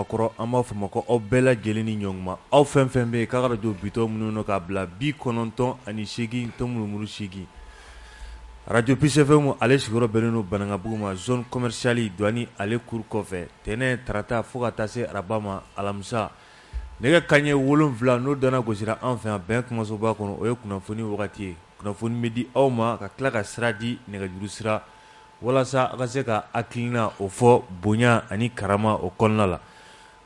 A kɔrɔ an b'a fɔ aw ma ko aw bɛɛ lajɛlen ni sɔgɔma aw fɛn fɛn bɛ yen k'a ka arajo bitɔn minnu na k'a bila bi kɔnɔntɔn ani seegin tɔ murumuru seegin radio PCFM ale sigiyɔrɔ bɛnnen don banankabugu ma zone commerciale douane ale cour kɔfɛ tɛnɛn tarata fo ka taa se araba ma alamisa nɛgɛ kanɲɛ wolonwula n'o dana gosira an fɛ yan bɛn kumasoba kɔnɔ o ye kunnafoni wagati ye kunnafoni bɛ di aw ma ka tila ka sira di nɛgɛjuru sira walasa a ka se ka hakilina o fɔ bonya ani karama o kɔnɔna la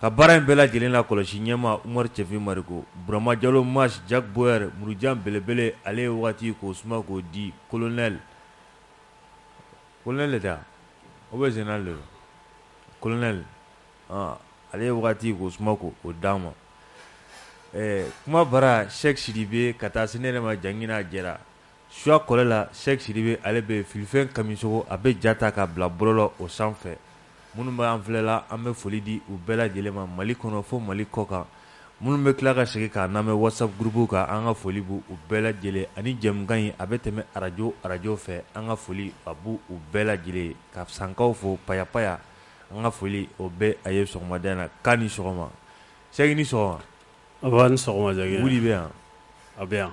ka baara in bɛɛ lajɛlen la kɔlɔsi ɲɛma umaru cɛfin mariko burama jalo mas jack boyer murujan belebele ale ye waati k'o suma k'o di colonel de o bɛ sen le colonel ale ye waati k'o suma k'o d'a ma kuma bara sɛki sidibe ka taa se ne yɛrɛ ma jangina jɛra Suya kɔlɛ la sɛki sidibe ale bɛ filifɛn kamisogo a bɛ ja ta k'a bila bɔlɔlɔ o sanfɛ minnu bɛ an filɛla an bɛ foli di u bɛɛ lajɛlen ma mali kɔnɔ fo mali kɔ kan minnu bɛ tila ka segin k'a lamɛn whatsapp groupe kan an ka foli b'u bɛɛ lajɛlen ani jɛmukan in a bɛ tɛmɛ arajo arajo fɛ an ka foli a b'u bɛɛ lajɛlen ye ka sankaw fo payapaya an ka foli o bɛ a ye sɔgɔmada in na k'a ni sɔgɔma sɛki ni sɔgɔma bɛ yan a bɛ yan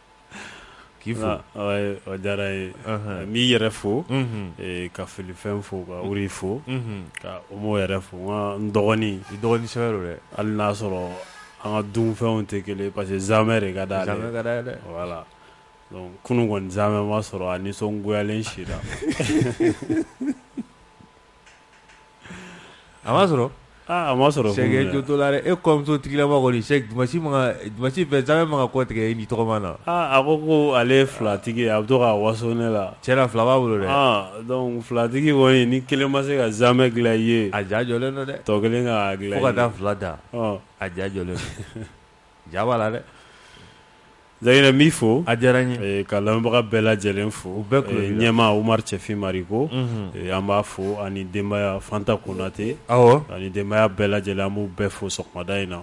k'i fo a diyara n ye n b'i yɛrɛ fo ka filifɛn fo ka wuri fo ka omo yɛrɛ fo n dɔgɔnin dɔgɔnin dɛ hali n'a sɔrɔ an ka dunfɛnw tɛ kelen parce que zaamɛ de ka d'ale voilà donc kunun kɔni zaamɛ ma sɔrɔ a nisɔngoyalen sira A ma sɔrɔ a ma sɔrɔ sɛki jo to la dɛ e kɔ musotigilama kɔni sɛki dimasi fɛ zaamɛ man kan ka kɔtigɛ i ni tɔgɔma na a ko ko ale filatigi a bɛ to ka waso ne la tiɲɛ na fila b'a bolo dɛ donc filatigi kɔni ni kelen ma se ka zaamɛ dilan i ye a jajɔlen don dɛ tɔ kelen k'a dilan fo ka taa fila da a jajɔlen Ja b'a la dɛ jangina n b'i fo a diyara n ye ka lamɛnbaga bɛɛ lajɛlen fo u bɛɛ kulu ɲɛma umaru cɛfin mariko an b'a fo ani denbaya fanta konatɛ aw ani denbaya bɛɛ lajɛlen an b'u bɛɛ fo sɔgɔmada in na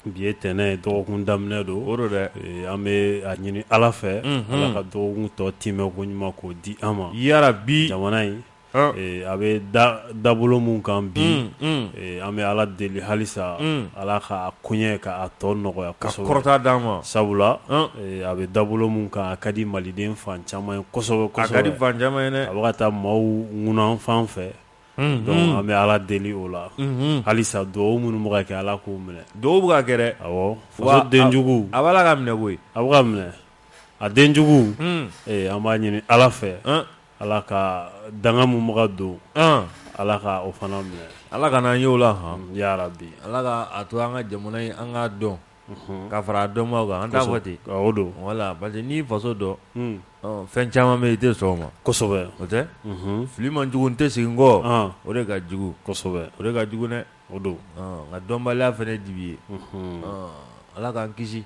bi ye tɛnɛn dɔgɔkun daminɛ don o dɛ an bɛ a ɲini ala fɛ ala ka dɔgɔkun tɔ timɛ ko ɲuman k'o di an ma yarabi jamana in a bɛ dabolo min kan bi an bɛ ala deli halisa ala ka koɲɛ k'a tɔ nɔgɔya ka kɔrɔta d'an ma sabula a bɛ dabolo min kan a ka di maliden fan caman ye kosɛbɛ a bɛ ka taa maaw ŋunan fan fɛ donc an bɛ ala deli o la halisa dugawu minnu bɛ ka kɛ ala k'o minɛ dugawu bɛ ka kɛ dɛ awɔ faso denjugu a b'a la ka minɛ koyi a bɛ ka minɛ a denjugu an b'a ɲini ala fɛ Ala ka danga mun bɛ ka don, an, Ala ka o fana minɛ, Ala kan'an ye o la han, yarabi, Ala ka a to an ka jamana in an k'a dɔn, unhun, ka fara a dɔnbaaw kan, an t'a fɔ ten, kosɛbɛ, o don, voilà, parce que n'i y'i faso dɔn, un, ɔ fɛn caman bɛ yen i tɛ sɔn o ma, kosɛbɛ, o tɛ, unhun, fili man jugu n tɛ segin n kɔ, an, o de ka jugu, kosɛbɛ, o de ka jugu dɛ, o don, ɔ nka dɔnbaliya fana ye dibi ye, unhun, ɔ Ala k'an kisi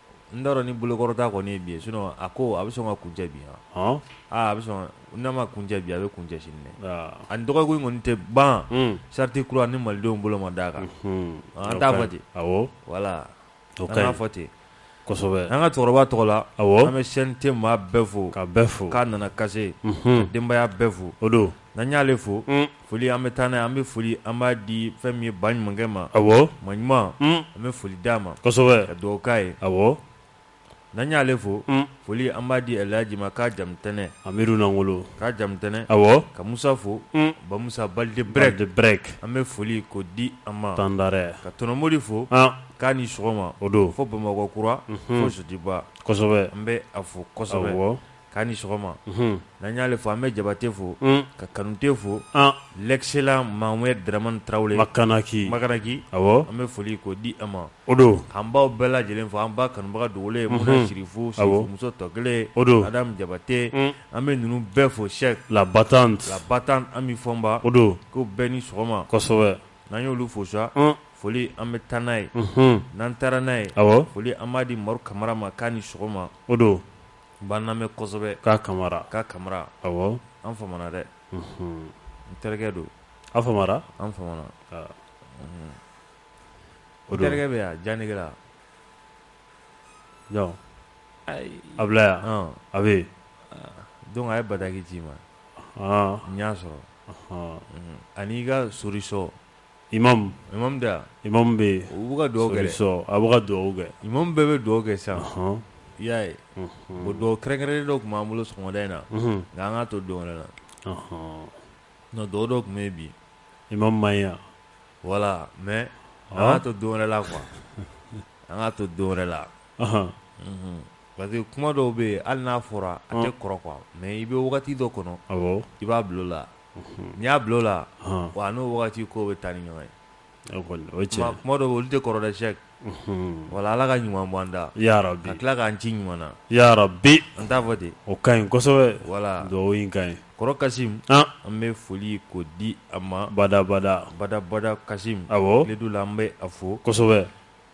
N t'a dɔn ni bolokɔrɔta kɔni ye bi ye sinon a ko a bɛ sɔn ka kuncɛ bi wa? Ɔn! Aa a bɛ sɔn n'a ma kuncɛ bi a bɛ kuncɛ sini dɛ! Aa! A ni dɔgɔkun in kɔni tɛ ban. Un! Charte kura ni Malidenw bolo ma d'a kan. Unhun! An t'a fɔ ten. Awɔ! Voilà! O ka ɲi. An k'a fɔ ten. Kosɛbɛ! An ka cɛkɔrɔba tɔgɔ la. Awɔ! An bɛ CNT maa bɛɛ fo. Ka bɛɛ fo. K'a Nanakase. Unhun! Ka denbaya bɛɛ fo. O don. N'an y'ale fo, un, foli an bɛ taa n'a ye, an bɛ foli an b'a di fɛn min ye baɲumankɛ ma, awɔ, maɲuman, un, an bɛ foli d'a ma, kosɛbɛ, ka dugawu k'a ye, awɔ, n'an y'ale fo, un, foli an b'a di Ɛlihaji ma k'a Jamutɛnɛ, Amidu Nankolo, k'a Jamutɛnɛ, awɔ, ka Musa fo, un, Bamusa Balde Brɛk, Balde Brɛk, an bɛ foli k'o di a ma, Tandare, ka Tɔnɔ Modi fo, an, k'a ni sɔgɔma, o don, fo Bamakɔ kura, unhun, fo Sotiba, kosɛbɛ, an bɛ a fo kosɛbɛ, awɔ. k'a ni sɔgɔma n'an y'ale fo an bɛ jabate fo ka kanute fo l'excellent maire draman tarawele makanaki awɔ an bɛ foli k'o di a ma o don k'an baw bɛɛ lajɛlen fo an ba kanubaga dogolen ye sirifu muso tɔ kelen o don adam jabate an bɛ ninnu bɛɛ fo cheikh la battante la battante ami fɔnba o don k'u bɛɛ ni sɔgɔma kosɛbɛ n'an y'olu fo sa foli an bɛ taa n'a ye n'an taara n'a ye foli an b'a di maru kamara ma k'a ni sɔgɔma o don B'an lamɛn kosɛbɛ k'a kamara k'a kamara awɔ an famana dɛ n terikɛ don an famana an famana o n terikɛ bɛ yan janegila ayi a bila yan a bɛ donc a ye bataki ci i ma n y'a sɔrɔ ani i ka sosɔn Imam imam bɛ yen u ka dugawu kɛ sɔn a bɛ dugawu kɛ imam bɛɛ bɛ dugawu kɛ sa i y'a ye o dugawu kɛrɛnkɛrɛnnen dɔ tun b'an bolo sɔgɔmada in na nka an k'a to don wɛrɛ la nka dugawu dɔ tun bɛ yen bi imam ma yan voilà mais an k'a to don wɛrɛ la quoi an k'a to don wɛrɛ la parce que kuma dɔw bɛ yen hali n'a fɔra a tɛ kɔrɔ quoi mais i bɛ wagati dɔ kɔnɔ i b'a bila o la n'i y'a bila o la wa n'o waati ko bɛ taa ni ɲɔgɔn ye kuma dɔw bɛ olu tɛ kɔrɔ dɛ cheikh voilà ala ka ɲuman bɔ an da yarabi ka tila k'an ci ɲuman na yarabi an t'a fɔ ten o ka ɲi kosɛbɛ voilà o ka ɲi kɔrɔ kasim an bɛ foli k'o di a ma badabada badabada kasim awɔ du la an bɛ a fo kosɛbɛ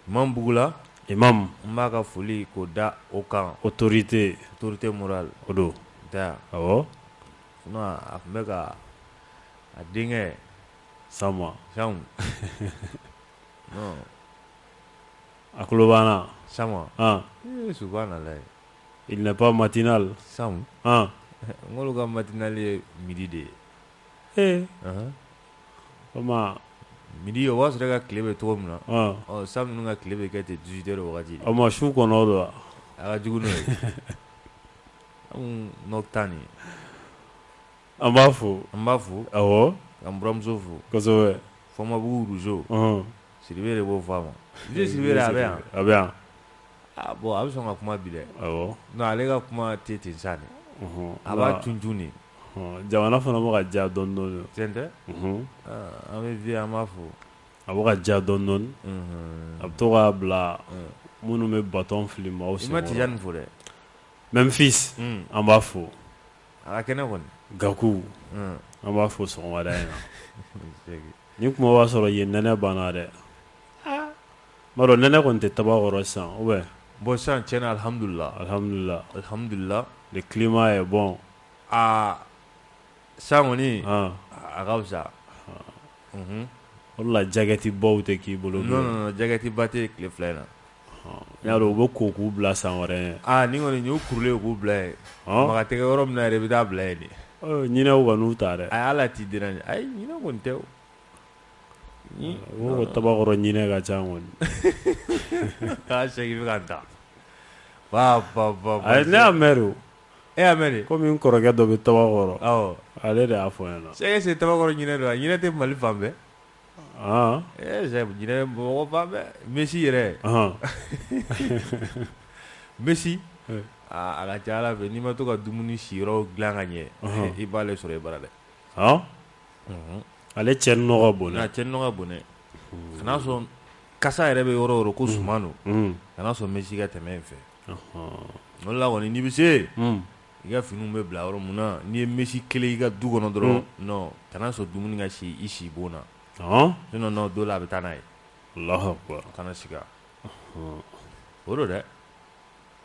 imam bugula imam n b'a ka foli k'o da o kan autorité autorité morale o don da a tun bɛ ka a denkɛ Sam a tulo b'an na subhanallah il n'est pas matinal n k'olu ka matinal ye midi de ye ee o midi o b'a sɔrɔ ka tile bɛ cogo min na Sam ninnu ka tile bɛ kɛ ten dix-huit heures o ma su ko o don a ka jugu n'o ye tan an b'a fo an b'a fo awɔ an buranmuso fo Fɔnbabugu Rougeau Sidibe de b'o fɔ a ma Sidibe a bɛ yan a bɛ yan a bon a bɛ sɔn ka kuma bi dɛ nka ale ka kuma tɛ ten sa dɛ a b'a tun tun de jamana fana bɛ ka diya dɔɔnin dɔɔnin tiɲɛ tɛ an bɛ vie an b'a fo a bɛ ka diya dɔɔnin dɔɔnin a bɛ to k'a bila minnu bɛ bâton fili maaw senkɔrɔ i ma Tijani fo dɛ Memphis an b'a fo a ka kɛnɛ kɔni Gaku an b'a fo sɔgɔmada in na ni kuma b'a sɔrɔ yen nɛnɛ banna dɛ m'a dɔn nɛnɛ kɔni tɛ Tabakɔrɔ sisan bon sisan tiɲɛ na alihamidulilahi le climat est bon aa sisan kɔni a ka fisa o la jaketi baw tɛ k'i bolo jaketi ba tɛ tile fila in na Y'a dɔn u bɛ ko k'u bila san wɛrɛ n'i kɔni y'u kurulen k'u bila yen makan tɛ yɔrɔ min yɛrɛ bɛ taa bila yen de ɲinɛw kan'u ta dɛ a y'a la t'i di ɲinɛ kɔni tɛ o Tabakɔrɔ ɲinɛ ka ca kɔni taa segin ka taa ne y'a mɛn de e y'a mɛn kɔmi n kɔrɔkɛ dɔ bɛ Tabakɔrɔ ale de y'a fɔ n ɲɛna Cheikh e Tabakɔrɔ ɲinɛ don a ɲinɛ tɛ Mali fan bɛɛ Messi yɛrɛ Messi a ka ca Ala fɛ n'i ma to ka dumuni siyɔrɔ dilan ka ɲɛ i b'ale sɔrɔ i bara dɛ ale cɛnni nɔ ka bon cɛnni nɔ ka bon dɛ kana sɔn kasa yɛrɛ bɛ yɔrɔ yɔrɔ ko suman don kana sɔn Messi ka tɛmɛ in fɛ o la kɔni n'i bɛ se I ka finiw bɛ bila yɔrɔ min na n'i ye Messi kelen i ka du kɔnɔ dɔrɔn kana sɔn dumuni ka si i sibon na sinon don dɔ la a bɛ taa n'a ye kana sigi o don dɛ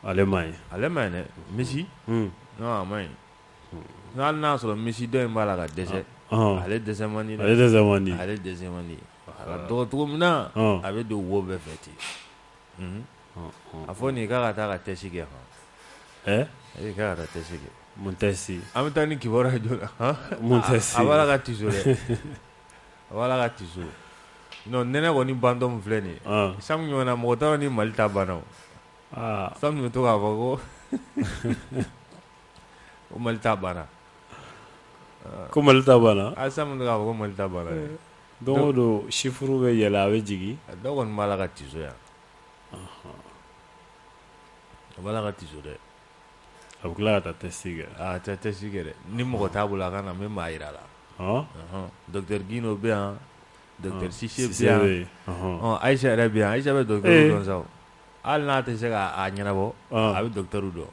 ale ma ale man ɲi dɛ Messi a man ɲi n'a sɔrɔ Messi dɔ in b'a la ka dɛsɛ ale dɛsɛ man di dɛ ale dɛsɛ man di a ka dɔgɔ cogo min na a bɛ don wo bɛɛ fɛ ten a fɔ nin k'a ka taa ka tɛsi kɛ hɔn k'a ka taa tɛsi kɛ mun tɛsi an bɛ taa ni kibaruya ye joona mun tɛsi a b'a la ka tiso dɛ a b'a la ka tiso non nɛnɛ kɔni bantɔ filɛ nin ye Sam ɲɔgɔn mɔgɔ t'a dɔn ni mali ta banna Sam bɛ to k'a fɔ ko ko mali ta banna ko mali ta banna a Sam k'a fɔ ko mali ta banna don o don chiffre bɛ yɛlɛ a bɛ jigin a dɔw kɔni b'a la ka tiso yan A b'a la ka tiso dɛ a bɛ tila ka taa tɛsi kɛ tɛ tɛsi kɛ dɛ ni mɔgɔ t'a bolo a ka na n bɛ maa jira a la dɔkitɛri Gindo bɛ yan dɔkitɛri Sise bɛ yan Ayisa yɛrɛ bɛ yan Ayisa bɛ dɔ sa hali n'a tɛ se k'a ɲɛnabɔ a bɛ dɔkitɛriw dɔn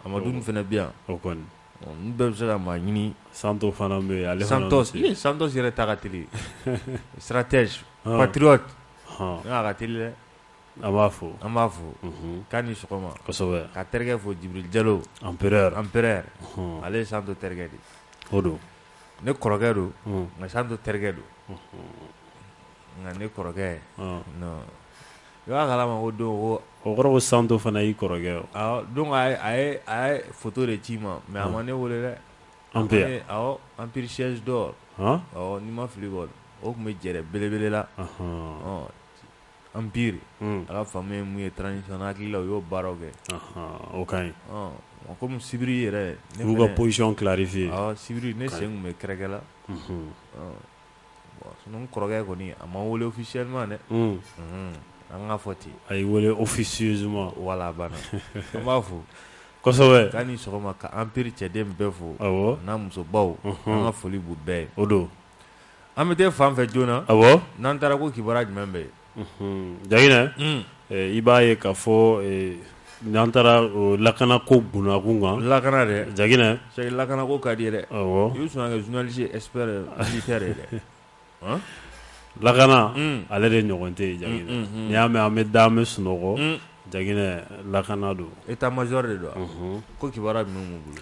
Amadu fana bɛ yan o kɔni n bɛɛ bɛ se ka maa ɲini Santos fana bɛ yen ale Santos Santos yɛrɛ ta ka teli stratège patriote an b'a fo an b'a fo k'a ni sɔgɔma ka terikɛ fo Jibril Jalo empereur empereur ale ye Santos terikɛ de o don ne kɔrɔkɛ don nka Santos terikɛ don nka ne kɔrɔkɛ i b'a kala ma ko don o kɔrɔ Santos fana y'i kɔrɔkɛ don a ye foto de ci n ma mɛ a ma ne weele dɛ an bɛ yan, awɔ, Empire siège d'or ɔ n'i ma fili kɔni o tun bɛ jɛɛrɛ belebele la, ɔhɔɔ, Empire a ka faamu ye mun ye transition na n hakili la u y'o baaraw kɛ, ɔhɔɔ, o ka ɲi, ɔ komi sibiri yɛrɛ, u y'u ka position clarifier awɔ, sibiri ne sen tun bɛ kɛrɛkɛ la, unhun, ɔ kɔrɔkɛ kɔni a ma n wele officiellement dɛ an ka fɔ ten a ye n weele officieusement voilà a banna an b'a fo kosɛbɛ k'a ni sɔgɔma ka Empire cɛden bɛɛ fo a n'a musobaw an ka foli b'u bɛɛ ye o don an bɛ taa fan fɛ joona awɔ n'an taara ko kibaruya jumɛn bɛ yen Jaginɛ i b'a ye k'a fɔ n'an taara lakana ko bunakun kan lakana Jaginɛ lakana ko ka di yɛrɛ i bɛ sɔn ka kɛ journaliste ye dɛ lakana ale de ɲɔgɔn tɛ Jaginɛ n'i y'a mɛn an bɛ da an bɛ sunɔgɔ Jaginɛ lakana don état major de don ko kibaruya bɛ bolo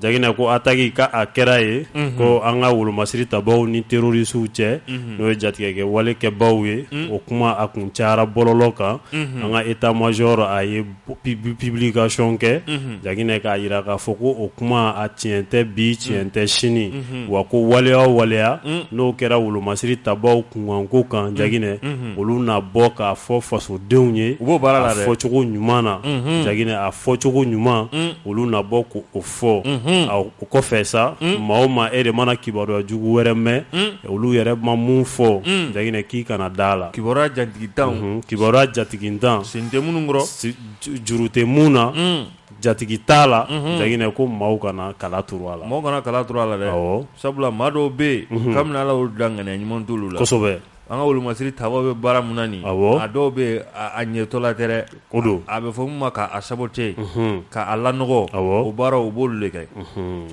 Jaginɛ ko attaque ko a kɛra yen, unhun, ko an ka wolomasiri tabaaw ni terroristes cɛ, unhun, n'o ye jatigɛkɛ wale kɛbaaw ye, unhun, o kuma a kun cayara bɔlɔlɔ kan, unhun, an ka état major a ye publication kɛ, unhun, Jaginɛ k'a jira k'a fɔ ko o kuma a tiɲɛ tɛ bi tiɲɛ tɛ sini, unhun, wa ko waleya o waleya n'o kɛra wolomasiri tabaaw kunkanko kan Jaginɛ, unhun, olu na bɔ k'a fɔ fasodenw ye, u b'o baara la dɛ, a fɔcogo ɲuman na, unhun, Jaginɛ a fɔcogo ɲuman olu na bɔ k'o fɔ o kɔfɛ sa maa o maa e de mana kibaruya jugu wɛrɛ mɛn olu yɛrɛ ma min fɔ jaginɛ k'i kana da la kibaruya jatigintan kibaruya jatigintan sen tɛ minnu juru tɛ min na jatigi t'a la jaginɛ ko maaw kana kala turu a la maa kana kala turu a la sabula maa dɔw bɛ yen kabini ala y'olu dan ŋaniya ɲuman t'olu la An ka wolomasiri tabaw bɛ baara min na nin a dɔw bɛ a ɲɛtɔla tɛ dɛ o don a bɛ fɔ min ma k'a saboter k'a lanɔgɔ o baara u b'olu de kɛ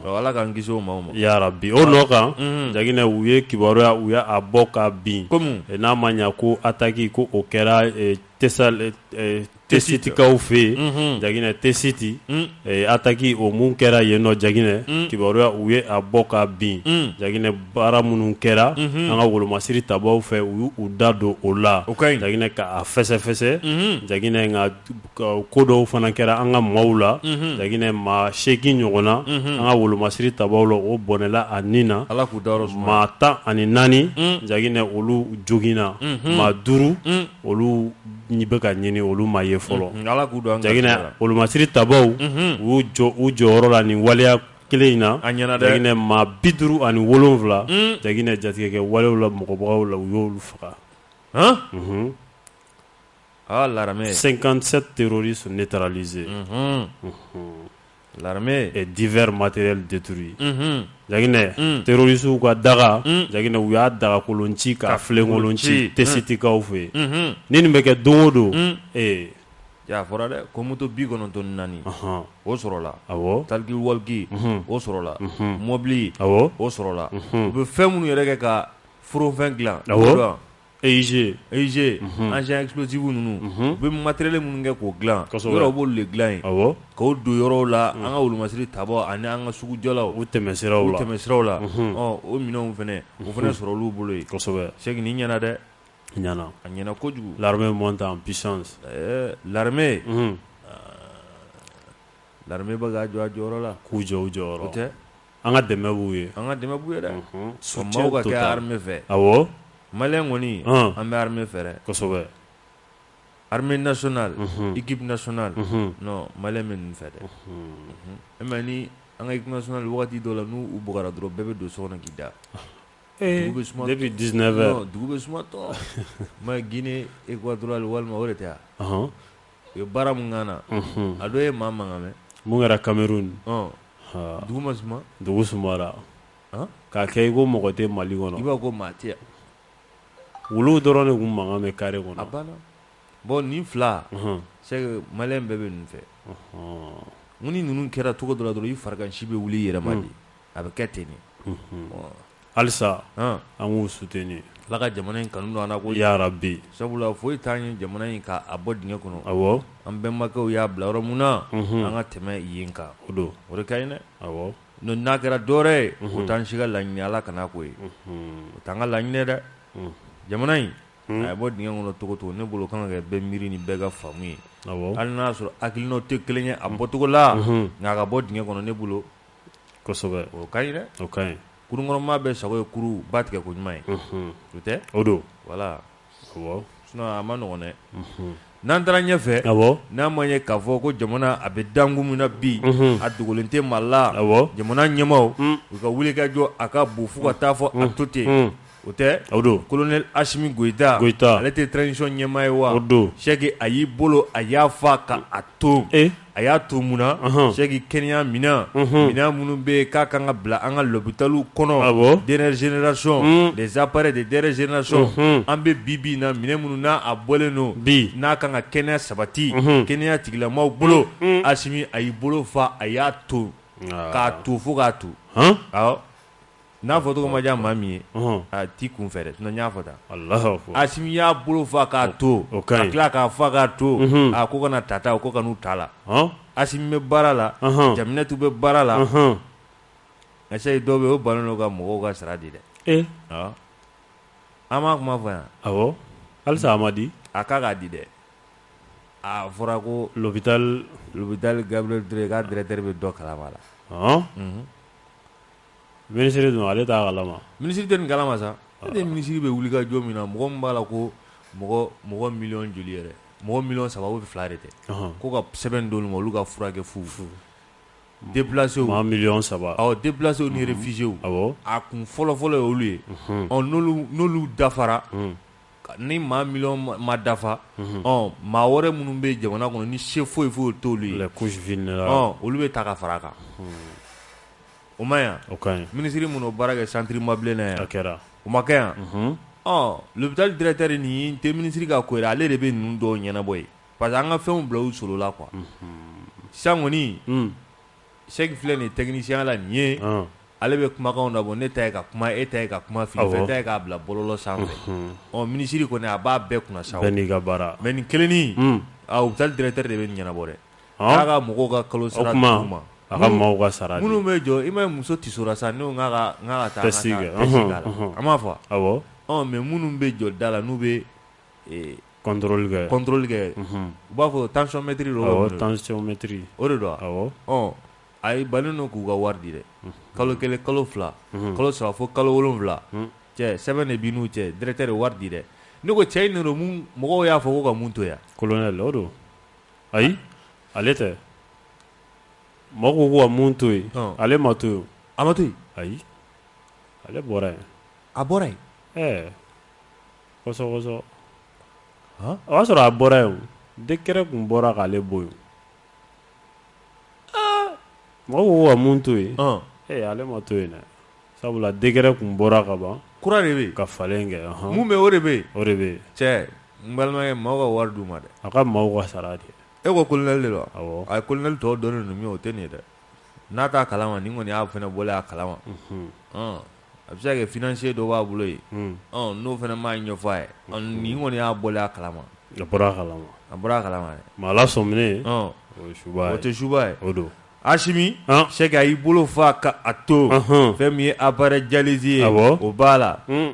ala k'an kisi o maaw ma yarabi o nɔ kan jaginɛ u ye kibaruya u y'a bɔ ka bin kɔmi n'a ma ɲɛ ko attaque ko o kɛra tɛ tɛsitikaw fɛ yen jaginɛ tɛsiti attaque o min kɛra yen nɔ jaginɛ kibaruya u ye a bɔ ka bin jaginɛ baara minnu kɛra an ka wolomasiri tabaw fɛ u y'u da don o la jaginɛ k'a fɛsɛfɛsɛ jaginɛ nka ko dɔw fana kɛra an ka maaw la jaginɛ maa seegin ɲɔgɔn na an ka wolomasiri tabaw la o bɔnɛla a ni na ala k'u da maa tan ani naani jaginɛ olu joginna maa duuru olu u bɛ ka ɲini olu ma ye fɔlɔ jaginɛ wolomasiri tabaw u jɔyɔrɔ la nin waleya kelen in na jaginɛ maa bi duuru ani wolonwula jaginɛ jatigɛkɛ walew la mɔgɔbagaw la u y'olu faga aa cinquante-sept terroristes neutralisés L'armée et divers matériels détruits unhun Jaginɛ unn terroriste u ka daga unn Jaginɛ u y'a dagakolon ci k'a filenkolon ci unhun Tessitkaw fɛ yen unhun ninnu bɛ kɛ don o don unn ee e a fɔra dɛ ko moto 94 ɔnhɔn o sɔrɔla awɔ talkie-walkie unhun o sɔrɔla unhun mɔbili awɔ o sɔrɔla unhun u bɛ fɛn minnu yɛrɛ kɛ ka foronfɛn dilan awɔ EIG EIG engin explosif ninnu u bɛ matériel minnu kɛ k'o dilan yɔrɔ b'olu de dilan yen k'o don yɔrɔw la an ka wolomasiri tabaw ani an ka sugujɔlaw u tɛmɛsiraw la o minɛnw fana o fana sɔrɔ olu bolo yen c'est que nin ɲɛna dɛ ɲɛna a ɲɛna kojugu l'armée monte en puissance l'armée bɛ ka jɔ a jɔyɔrɔ la k'u jɔ u jɔyɔrɔ o tɛ An ka dɛmɛ b'u ye. An ka dɛmɛ b'u ye dɛ. Unhun soutien total. Maaw ka kɛ armée fɛ. Awɔ. Maliyɛn kɔni an bɛ armée fɛ dɛ. Kosɛbɛ! Armée nationale Unhun équipe nationale Unhun non maliyɛn bɛ ninnu fɛ dɛ. Unhun E m'a ye ni an ka équipe nationale wagati dɔw la n'u bugara dɔrɔn bɛɛ bɛ don so kɔnɔ k'i da. Ee dugu bɛ suma depuis 19 heures non dugu bɛ suma tɔɔ. I m'a ye Guinée Équatoriale walima o de tɛ a? Ɔnhɔn. u ye baara min k'an na, unhun, a dɔ ye maa mankan mɛn, mun kɛra Cameroun, ɔn, haa, dugu ma suma, dugu sumara, an, k'a kɛ i ko mɔgɔ tɛ Mali kɔnɔ, i b'a fɔ ko maa tɛ yan, wuluw dɔrɔn de kun mankan bɛ carré kɔnɔ, a banna, bon nin fila, unhun, c'est que maliyɛn bɛɛ bɛ ninnu fɛ, ɔnhɔn, n ko ni ninnu kɛra cogo dɔ la dɔrɔn i farikansi bɛ wuli i yɛrɛ ma de a bɛ kɛ ten de halisa an k'u soutenir ala ka jamana in kanu don an na ko ya rabbi sabula foyi t'an ye jamana in k'a bɔ dingɛ kɔnɔ awɔ an bɛnbakɛw y'a bila yɔrɔ min na an ka tɛmɛ yen kan o don o de ka ɲi dɛ n n'a kɛra dɔwɛrɛ ye o t'an si ka laɲini ala kana k'o ye o t'an ka laɲini ye dɛ jamana in a ye bɔ dingɛ kɔnɔ cogo o cogo ne bolo kan ka kɛ bɛɛ miiri ni bɛɛ ka faamu ye hali n'a y'a sɔrɔ hakilinaw tɛ kelen ye a bɔcogo la nka a ka bɔ dingɛ kɔnɔ ne bolo ɲi kurunkɔnɔmaa bɛɛ sago ye kurun ba tigɛ ko ɲuman ye o tɛ o don voilà awɔ sinon a ma nɔgɔ dɛ n'an taara ɲɛfɛ n'a ma ye k'a fɔ ko jamana a bɛ dankun min na bi a dogolen tɛ maa la jamana ɲɛmaaw u ka wulikajɔ a ka bon fo ka taa fɔ a to ten o tɛ o don colonel Asimi Goïta Goïta ale tɛ transition ɲɛmaa ye wa o don c'est que a y'i bolo a y'a fa ka a to a y'a to mun na c'est que kɛnɛya minɛn minɛn minnu bɛ yen k'a ka kan ka bila an ka lopitaliw kɔnɔ dernière génération des appareils de dernière génération an bɛ bi bi in na minɛn minnu n'a a bɔlen don bi n'a kan ka kɛnɛya sabati kɛnɛya tigilamaaw bolo Asimi a y'i bolo fa a y'a to k'a to fo k'a to N'a fɔcogo ma diya maa min ye a t'i kun fɛ dɛ sinon n y'a fɔ tan, Alahu akibaru, Asimi y'a bolo fa k'a to, o ka ɲi, ka tila k'a fa k'a to, unhun, a ko kana ta ta u ko kan'u ta a la, ɔn, Asimi bɛ baara la, ɔnhɔn, Jaminɛtu bɛ baara la, ɔnhɔn, nka c'est que dɔw bɛ yen o bannen don ka mɔgɔw ka sara di dɛ, e, ɔ, an m'a kuma fɔ yan, awɔ, halisa a ma di, a kan ka di dɛ, aa a fɔra ko lopital lopital Gabriel Toure k'a directeur bɛ dɔ kalama a la, ɔn, unhun Minisiri dun ale t'a kalama, minisiri tɛ nin kalama sa, e ni minisiri bɛ wulikajɔ min na mɔgɔ min b'a la ko mɔgɔ miliyɔn joli yɛrɛ, mɔgɔ miliyɔn saba ou bien fila de tɛ, ɔnhɔn, ko ka sɛbɛn d'olu ma olu ka furakɛ fu, fu, déplacés maa miliyɔn saba, awɔ, déplacés ni réfugiés a kun fɔlɔ-fɔlɔ ye olu ye, unhun, ɔ n'olu n'olu dafara, unhun, ni maa miliyɔn ma dafa, unhun, ɔ maa wɛrɛ minnu bɛ jamana kɔnɔ ni se foyi foyi t'olu ye, les couches vulnérables ɔ olu bɛ ta ka fara a kan, unhun o ma yan o ka minisiri minnu baara kɛ centre Mabile na yan a kɛra o ma kɛ yan l'hôpital directeur nin tɛ minisiri ka ko ye ale de bɛ ninnu dɔw ɲɛnabɔ ye parce que an ka fɛnw bila u solola quoi sisan kɔni Sɛki filɛ nin technicien la nin ye ale bɛ kumakanw labɔ ne ta ye ka kuma e ta ye ka kuma fili fɛn ta ye k'a bila bɔlɔlɔ sanfɛ minisiri kɔni a b'a bɛɛ kunna sa n' ka baara mais nin kelennin hôpital directeur de bɛ nin ɲɛnabɔ dɛ ka mɔgɔw ka kalo sara d'u ma a ka mɔgɔw ka sara di minnu bɛ jɔ i ma muso tɛ sa n' an b'a fɔ mais minnu bɛ jɔ da la n'u bɛ contrôle kɛ u b'a fɔ tensiomètre tensiomètre o de don a ye balen don k'u ka wari di dɛ kalo kelen kalo fila kalo saba fo kalo wolonwula cɛ sɛbɛn de b'u cɛ directeur tɛ wari di dɛ ne ko cɛ in mɔgɔw y'a fɔ ko ka mun to yan kolonɛli don ayi ale tɛ mɔgɔ ko ko ka mun to yen ale ma to yen a ma to yen ayi ale bɔra yen a bɔra yen ɛɛ kɔsɔ o y'a sɔrɔ a bɔra yen décret kun bɔra k'ale bɔ yen Mɔgɔw ko ka mun to yen ee ale ma to yen dɛ sabula décret kun bɔra ka ban kura de bɛ ka falen kɛ mun bɛ o de bɛ o de bɛ cɛ n balimakɛ maaw ka wari d'u ma dɛ a ka maaw ka sara di e ko kolonɛli de don awɔ a ye kolonɛli tɔgɔ dɔnnen ninnu min o tɛ nin ye dɛ n'a t'a kalama nin kɔni y'a fana bɔlen a kalama a bɛ se ka kɛ financier dɔ b'a bolo yen, un, ɔ n'o fana m'a ɲɛfɔ a ye, ɔ nin kɔni y'a bɔlen a kalama, a bɔra a kalama, a bɔra a kalama dɛ, mais Ala sɔminen, ɔn, o ye suba ye, o tɛ suba ye, o don, Asimi, an, Sɛki a y'i bolo fa ka a to, ɔnhɔn, fɛn min ye appareil dialyse ye, awɔ, o b'a la, un,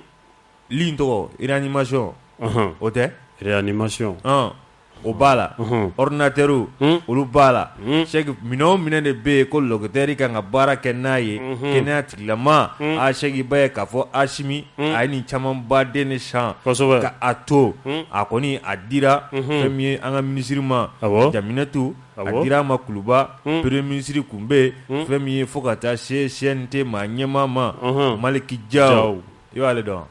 li in tɔgɔ réanimation ɔnhɔn, o tɛ, réanimation, ɔn o b'a la ordinateur olu b'a la minɛn o minɛn de bɛ yen ko docteur kan ka baara kɛ n'a ye kɛnɛya tigilamaa Sɛki i b'a ye k'a fɔ asimi a ye nin camanba de san ka a to a kɔni a dira fɛn min ye an ka minisiri ma jaminatu a dira a ma kuluba premier ministre kun bɛ yen fɛn min ye fo ka taa se CNT ma ɲɛmaa ma Maliki Jaw i b'ale dɔn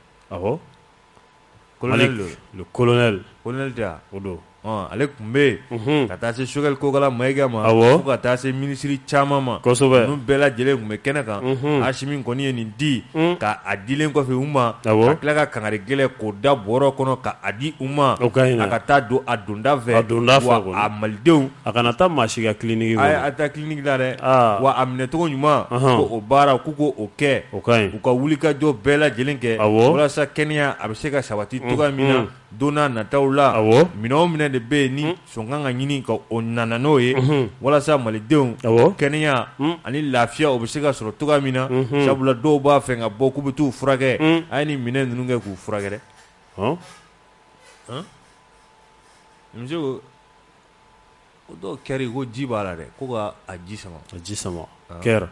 ale kun bɛ yen ka taa se Sogɛli Kokala Mayiga ma fo ka taa se minisiri caman ma ninnu bɛɛ lajɛlen kun bɛ kɛnɛ kan Asimi kɔni ye nin di k'a dilen kɔfɛ u ma ka tila ka kangari gɛlɛn k'o da bɔrɔ kɔnɔ k'a di u ma a ka taa don a donda fɛ wa a malidenw a kana taa maa si ka clinique la dɛ, aa, wa a minɛcogo ɲuman, ɔnhɔn, ko o baara k'u ko o kɛ, o ka ɲi, u ka wulikajɔ bɛɛ lajɛlen kɛ, awɔ, walasa kɛnɛya a bɛ se ka sabati cogoya min na don nataw la, awɔ, minɛn o minɛn de bɛ yen ni sɔn kan ka ɲini ka o na na n'o ye, unhun, walasa malidenw, awɔ, kɛnɛya ani lafiya o bɛ se ka sɔrɔ cogoya min na, unhun, sabula dɔw b'a fɛ ka bɔ k'u bɛ t'u furakɛ, un, a ye nin minɛn ninnu kɛ k'u furakɛ dɛ, ɔn, ɔn, monsieur ko O dɔw kɛra ko ji b'a la dɛ ko ka ji sama ka ji sama kɛra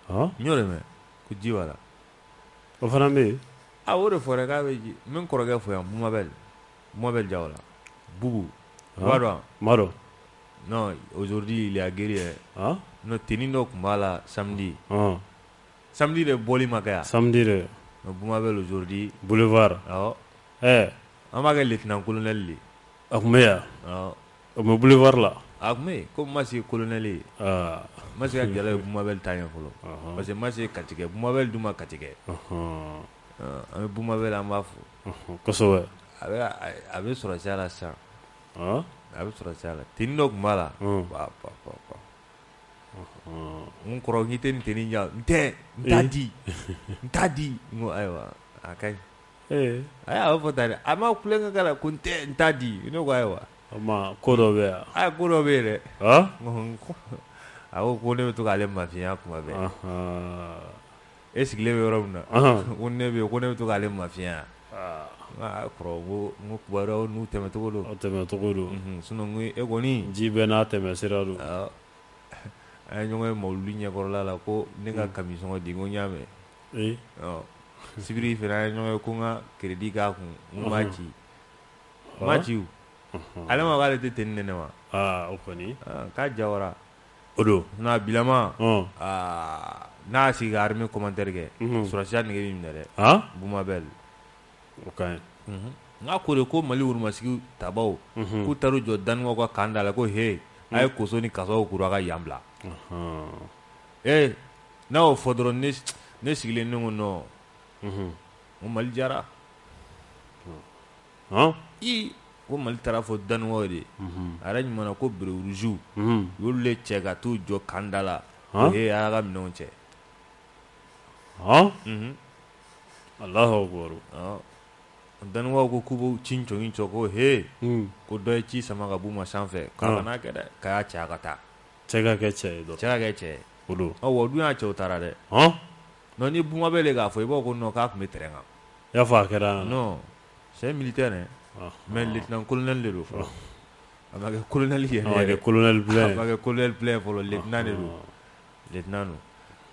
n y'o mɛn ko ji b'a la o fana bɛ yen a o de fɔra k'a bɛ ji n bɛ n kɔrɔkɛ fo yan Boumabel Boumabel jala bugu dɔndɔ aujourd'hui il est guéri non tenue dɔ tun b'a la samedi samedi de bɔli ma kɛ yan Boumabel aujourd'hui boulevard an b'a kɛ lieutenant-colonel de A tun bɛ yan o bɛ boulevard la a tun bɛ yen ko ma se colonel ye ma se ka jala ye Boumabel ta ɲɛ fɔlɔ parce que ma se katigɛ Boumabel dun ma katigɛ an bɛ Boumabel an b'a fɔ a bɛ sɔrɔsiya la sisan a bɛ sɔrɔsiya la tenue dɔ tun b'a la n kɔrɔ k'i tɛ nin tenue di n t'a di ayiwa a ka Ee a y'a fɔ tan a ma kulekan k'a la ko n tɛ n t'a di ne ko ayiwa ko dɔ bɛ yan a ko dɔ bɛ yen dɛ a ko ko ne bɛ to k'ale mafiya kuma bɛ e sigilen bɛ yɔrɔ min na ko ne bɛ ko ne bɛ to k'ale mafiyɛnya n'u tɛmɛcogo don tɛmɛcogo don sinon e kɔni ji bɛ n'a tɛmɛ sira don an ye ɲɔgɔn ye mawuludi ɲɛkɔrɔla la ko ne ka kami sɔngɔ di n ko n y'a mɛn ee ɔ sibiri fɛnɛ an ye ɲɔgɔn ye ko n ka crédit k'a kun n ko n b'a ci n m'a ci o ale ma k'ale tɛ tenue di ne ma aa o kɔni k'a jawara o don sinon a bilama aa n'a y'a sigi ka armée commentaire kɛ sɔrɔdasiya nege b'i minɛ dɛ Boumabel o ka ɲi n k'a ko de ko Mali woromasigi tabaaw k'u taar'u jɔ daniwakaw ka kan da la ko he a' ye koso ni kasaw kuru a' ka yan bila. Ee n'a y'o fɔ dɔrɔn ne sigilen ne ko non ko mali jara i ko mali taara fɔ daniwa de ye a yɛrɛ ɲuman na ko bérets rouges olu de cɛ ka taa u jɔ kanda la ee a y'a ka minɛnw cɛ allahu akbar daniwa ko k'u b'u ci jɔ cɛ ko he ko dɔ ye ci sama ka b'u ma sanfɛ k'a kana kɛ dɛ k'a y'a cɛ ka taa Cɛ ka kɛ cɛ ye dɔrɔn. Cɛ ka kɛ cɛ ye. O don. Ɔ wa o dun y'a cɛw taara dɛ. Ɔn! Donc ni buma b'e la i k'a fɔ, i b'a fɔ ko non k'a tun bɛ terrain kan. I y'a fɔ a kɛra. Non c'est un militaire hein ɔnhɔn mais lieutenant colonel de don fɔlɔ. A ma kɛ colonel yɛrɛ yɛrɛ. A ma kɛ colonel plein ye. A ma kɛ colonel plein ye fɔlɔ lieutenant de don. Ɔnhɔn. Lieutenant don.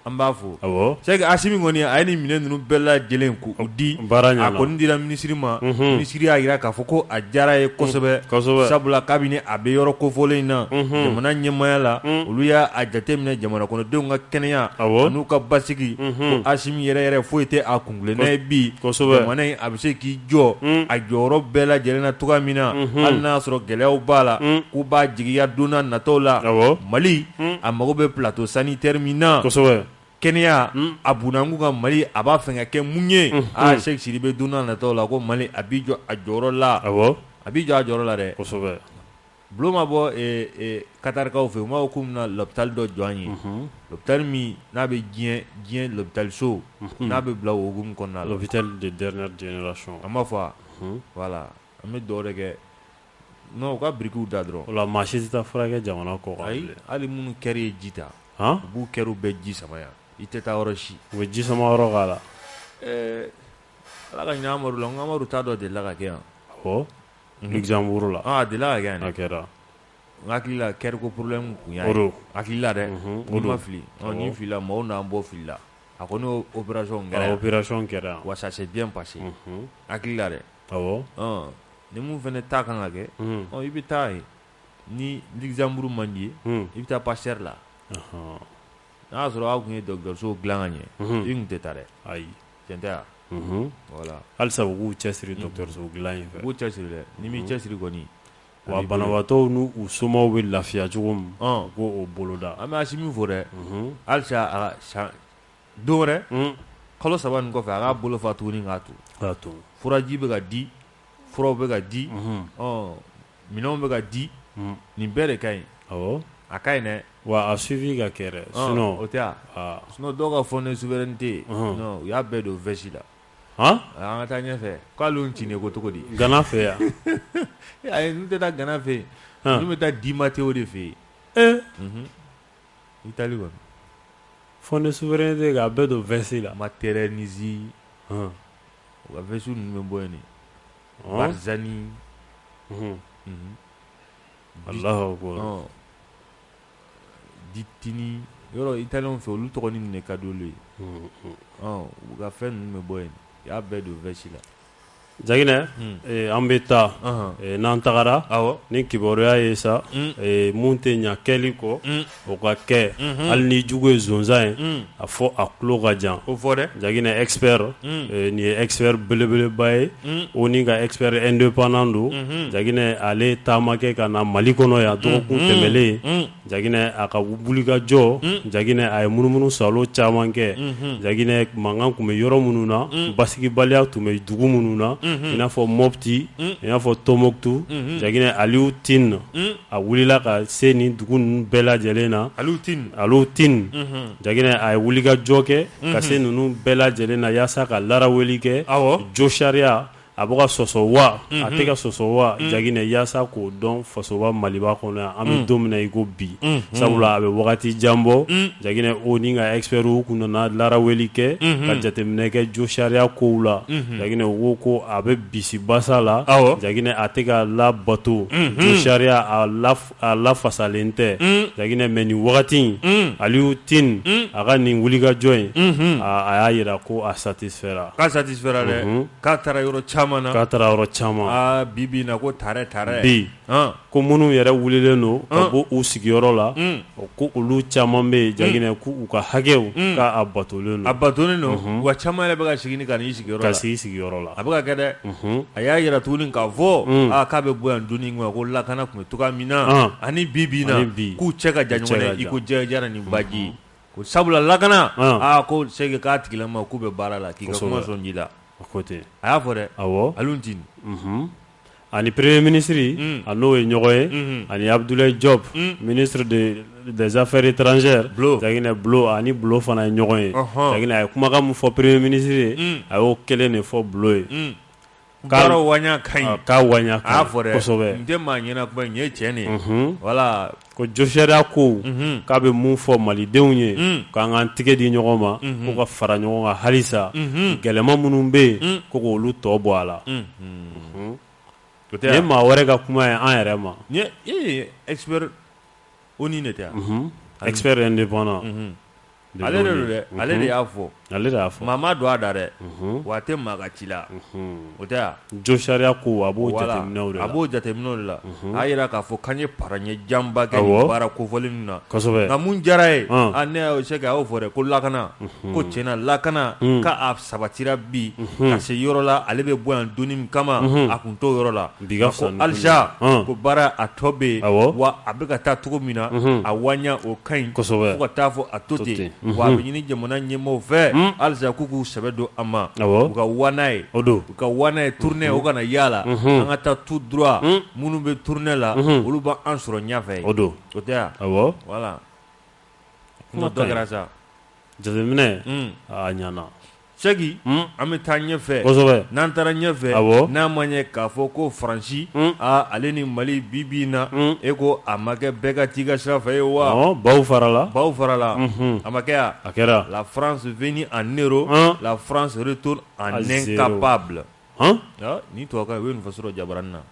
An b'a fɔ Sɛki Asimi kɔni a ye nin minɛn ninnu bɛɛ lajɛlen k'u di a kɔni dira minisiri ma minisiri y'a jira k'a fɔ ko a diyara a ye kosɛbɛ sabula kabini a bɛ yɔrɔ kofɔlen in na jamana ɲɛmaaya la olu y'a jateminɛ jamana kɔnɔdenw ka kɛnɛya n'u ka basigi ko Asimi yɛrɛ yɛrɛ foyi tɛ a kuntilenna ye bi jamana in a bɛ se k'i jɔ a jɔyɔrɔ bɛɛ lajɛlen na cogo min na hali n'a y'a sɔrɔ gɛlɛyaw b'a la k'u b'a jigiya don nataw la mali a mago bɛ ptɔ sanu teri min na kɛnɛya a bkun ka mali a b'a fɛ kɛ mun ye aa sɛsiri bɛ don natɔ la ko mali a bɛ jɔ a jɔyɔrɔ la a bɛ jɔ a jɔyɔrɔ la dɛ bulon ma bɔ katarikaw fɛ yen b'a ko bɛna labitali dɔ jɔn ye lobitari min n'a bɛ diɲɛ lobitaliso n'a bɛ bila wougu kɔnɔna la a b'a fɔ wala An bɛ dugawu de kɛ u ka birikiw da dɔrɔn o la maa si tɛ taa furakɛ jamana kɔkan hali minnu kɛrɛ ye ji ta u b'u kɛrɛ bɛɛ ji sama yan i tɛ taa yɔrɔ si u bɛ ji sama yɔrɔ k'a la ɛɛ ala ka hinɛ amadu la amadu ta dɔ delila ka kɛ yan Luxembourg la a delila ka kɛ a kɛra n hakili la cœur ko problème kun don n hakili la dɛ o ni n ma fili ni n filila maaw n'an bɔ fili la a kɔni opération kɛra wa ça s'est bien passé n hakili la dɛ ni min fana ta ka kan ka kɛ i bɛ taa yen ni Luxembourg man di i ye i bɛ taa Pasteur la n'a y'a sɔrɔ aw tun ye dɔgɔtɔrɔso dilan ka ɲɛ i tun tɛ taa dɛ ayi tiɲɛ tɛ wa voilà halisa u k'u cɛsiri dɔgɔtɔrɔsow dila in fɛ u k'u cɛsiri dɛ ni min cɛsiri kɔni wa banabagatɔw n'u somaaw bɛ lafiya cogo min k'o boloda an bɛ Asimi fo dɛ halisa don wɛrɛ kalo saba in kɔfɛ a k'a bolo fa tuguni k'a to k'a to furaji bɛ ka di furaw bɛ ka di minɛnw bɛ ka di nin bɛɛ de ka ɲi a ka ɲi dɛ wa a suivi ka kɛ sinon o tɛ sinon dɔw ka fond de souveraineté u y'a bɛɛ don vɛsi la an ka taa ɲɛfɛ k'ale ti ko cogo di gana fɛ yan n tɛ taa gana fɛ yen n bɛ taa Di Matteo de fɛ yen Italie kɔni fond de souveraineté k'a bɛɛ don vɛsi la Materazzi u ka vɛsi ninnu bɛ bɔ yen Barzani wala ko ditinin yɔrɔ italien fɛ olu tɔgɔ nin de ka di olu ye u ka fɛn ninnu bɛ bɔ yen u y'a bɛɛ don vɛsi la Jaginɛ an bɛ taa n'an tagara ni kibaruya ye sa mun tɛ ɲɛ kɛli kɔ o ka kɛ hali n'i jugu ye sonsan ye a fɔ a tulo ka jan o fɔ dɛ jaginɛ expert nin ye expert belebeleba ye ONU ka expert indépendant don jaginɛ ale ye taama kɛ ka na mali kɔnɔ yan dɔgɔkun tɛmɛlen Jaginɛ a ka wulikajɔ jaginɛ a ye munumunusaalo caman kɛ jaginɛ mankan tun bɛ yɔrɔ minnu na basigibaliya tun bɛ dugu minnu na i n'a fɔ Mopti i n'a fɔ Tombouctou jaginɛ Aliou Tine a wulila ka se nin dugu ninnu bɛɛ lajɛlen na Aliou Tine jaginɛ a ye wulikajɔ kɛ ka se ninnu bɛɛ lajɛlen na yaasa ka laraweli kɛ jo sariya A bɛ ka sɔsɔ wa a tɛ ka sɔsɔ wa jaginɛ yaasa k'o dɔn fasoba maliba kɔnɔ yan an bɛ don min na i ko bi sabula a bɛ wagati jan bɔ jaginɛ ONU ka expert kun nana laraweli kɛ ka jateminɛ kɛ jo sariya kow la jaginɛ o ko a bɛ bisibasa la jaginɛ a tɛ ka labato jo sariya a la a lafasalen tɛ jaginɛ mais nin wagati in Aliou Tine a ka nin wulikajɔ in a y'a jira ko a satisfɛra k'a satisfɛra dɛ k'a taara yɔrɔ caman k'a taara yɔrɔ caman bibi na ko tare tare bi ko minnu yɛrɛ wulilen don ka bɔ u sigiyɔrɔ la ko olu caman bɛ yen jaginɛ ko u ka hakɛw k'a batolen don wa caman yɛrɛ bɛ ka segin ka n'i sigiyɔrɔ la ka sigi sigiyɔrɔ la a bɛ ka kɛ dɛ a y'a jira tuguni k'a fɔ k'a bɛ bɔ yan don ko lakana ani bi bi k'u cɛ ka jan i ko jɛra ni baji ko sabula lakana aa ko se k'a tigila ma k'u bɛ baara la k'i sɔn'i la a y'a fɔ dɛ ani peree minisiriri a n'o ye ɲɔgɔn ye ani abudula jɔ minisiri de dezfɛre tranzɛeri ani bulon fana ye ɲɔgɔn ye a ye kumakan min fɔ peree minisiriri ye a y'o kelen de fɔ bulon ye waɲa ka ɲi k'a waɲa ka ɲi a y'a fɔ dɛ kosɛbɛ n tɛ maa ɲɛna kuma nin ye cɛn de ye voilà ko josariya ko k'a bɛ mun fɔ malidenw ye k'an k'an tigɛ di ɲɔgɔn ma ko ka fara ɲɔgɔn kan halisa gɛlɛman minnu bɛ yen ko k'olu tɔ bɔ a la nin ye maa wɛrɛ ka kuma ye an yɛrɛ ma expert ONU de tɛ expert indépendant ale de don dɛ ale de y'a fɔ ale y'a fɔ maa m'a don a da dɛ wa a tɛ maa ka ci la o tɛ wa jo sariya ko a b'o a b'o jateminɛw de la a jira k'a fɔ k'an ye pa ɲɛ janba kɛ baara kofɔlen ninnu na nka mun diyara ye ne y'o se k'a y'o fɔ dɛ ko lakana ko tiɲɛna lakana k'a sabatira bi ka se yɔrɔ la ale bɛ bɔ yan don min kama a tun t'o yɔrɔ la Bi ka fisa ni kunun ye. Ko halisa ko baara a tɔ bɛ yen, awɔ, wa a bɛ ka taa cogo min na, unhun, a waɲa o ka ɲi, kosɛbɛ, fo ka taa fɔ a to ten, to ten, unhun, wa a bɛ ɲini jamana ɲɛmɔɔw fɛ, un, halisa k'u k'u sɛbɛ don a ma, awɔ, u ka waan n'a ye, o don, u ka wa n'a ye tournée o kana y'a la, unhun, an ka taa tout droit un, minnu bɛ tournée la, unhun, olu bɛ an sɔrɔ ɲɛfɛ yen, o don, o tɛ wa, awɔ, voilà, kuma dɔ kɛra sa, jateminɛ, un, aa a ɲɛna. Seki an bɛ taa ɲɛfɛ n'an taara ɲɛfɛ n'a ma ye k'a fɔ ko faransi ale ni mali bi bi in na e ko a ma kɛ bɛɛ ka t'i ka sira fɛ ye wa baw farala baw farala a ma kɛ wa a kɛra la France venue en héros la France retourne en incapable nin tun bɛ faso jabaranin na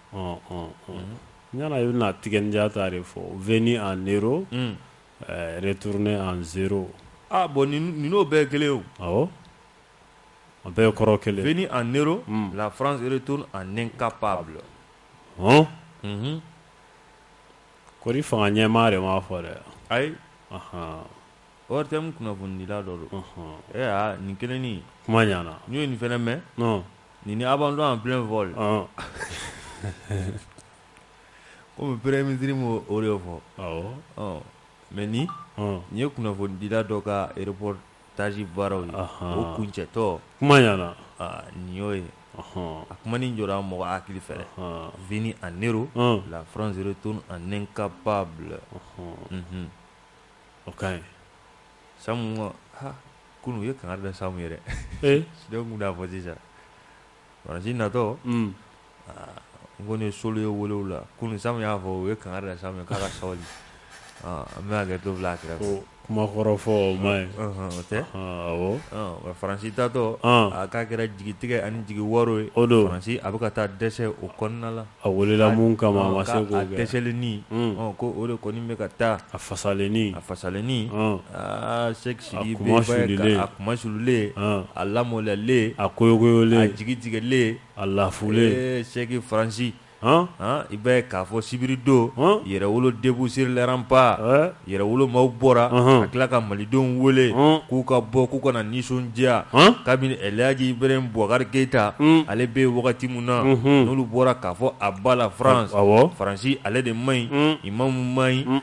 ne bɛna Tiken Jah ta de fɔ venu en héros Retourné en 0 aa bon ninnu bɛɛ ye kelen ye o, awɔ, a bɛɛ ye kɔrɔ kelen ye, venue en héros la France retourne en incapable ɔn, unhun, kɔri fanga ɲɛmaa de m'a fɔ dɛ, ayi, anhan, ORTM kunnafonidila dɔ don, ee aa nin kelennin, kuma ɲɛna, n ye nin fana mɛn, nin ni abandon en plein vol Kɔmi pere minisiriri ma o de fɔ mɛ nin n ye kunnafonidila dɔ ka repro taazji baaraw la o kun cɛtɔ kuma yala nin y'o ye a kuma jɔ mɔgɔ hakili fɛ v a ne la fze to ani ka ba bila o ka ɲi sa kunun u ye kanga da sa yɛrɛ dɔw'a fɔ sisan Faransi natɔ nkɔni solo ye wolo la kunun Samu y'a fɔ u ye kankari da Samu kan k'a ka sabali n bɛ ka t'o bila a kɛrɛfɛ ko kuma kɔrɔ fɔ o tɛ nka faransi taatɔ a k'a kɛra jigitigɛ ani jigiwaaro ye o don faransi a bɛ ka taa dɛsɛ o kɔnɔna la a wulila min kama a ma se o kɔ a dɛsɛlennin ko o de kɔni bɛ ka taa a fasalennin a fasalennin aa se kunmasuulilen a lamalolen a kɔyɔgɔyɔgɔlen a jigitigɛlen a lafulen Seki faransi i b'a ye k'a fɔ sibiridon Yɛrɛwolo debout sur les remparts Yɛrɛwolo maaw bɔra a tila ka malidenw wele k'u ka bɔ k'u ka na nisɔndiya kabini Elhaji Ibrahim Bubakari Keyita ale bɛ wagati min na n'olu bɔra k'a fɔ à bas la France faransi ale de man ɲi i ma man ɲi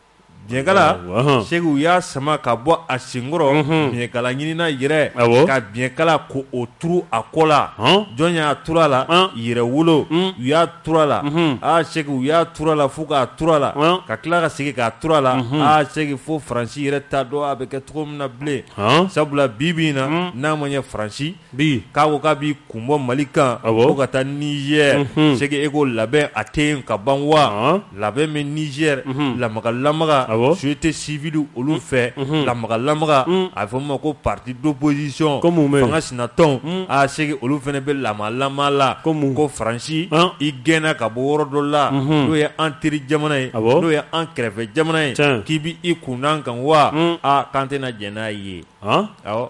biɲɛkala Seki u y'a sama ka bɔ a senkɔrɔ biɲɛkala ɲinina yɛrɛ ka biɲɛkala k'o turu a kɔ la jɔn y'a turu a la Yɛrɛwolo u y'a turu a la aa Seki u y'a turu a la fo k'a turu a la ka tila ka segin k'a turu a la aa Seki fo faransi yɛrɛ t'a dɔn a bɛ kɛ cogo min na bilen sabula bi bi in na n'a ma ye faransi bi k'a ko k'a b'i kun bɔ Mali kan awɔ ko ka taa Niger unhun Cheick e ko labɛn a tɛ yen ka ban wa ɔnhɔn labɛn bɛ Niger unhun lamaga lamaga awɔ société civile olu fɛ unhun lamaga lamaga un a bɛ fɔ min ma ko parti d'opposition ko mun bɛ ye fanga sinatɔnw un aa Cheick olu fana bɛ lamaga lamaga la ko mun ko Faransi an i gɛnna ka bɔ yɔrɔ dɔ la unhun n'o ye an teri jamana ye awɔ n'o ye an kɛrɛfɛ jamana ye tiɲɛ k'i b'i kun da an kan wa un aa k'an tɛna jɛn n'a ye an awɔ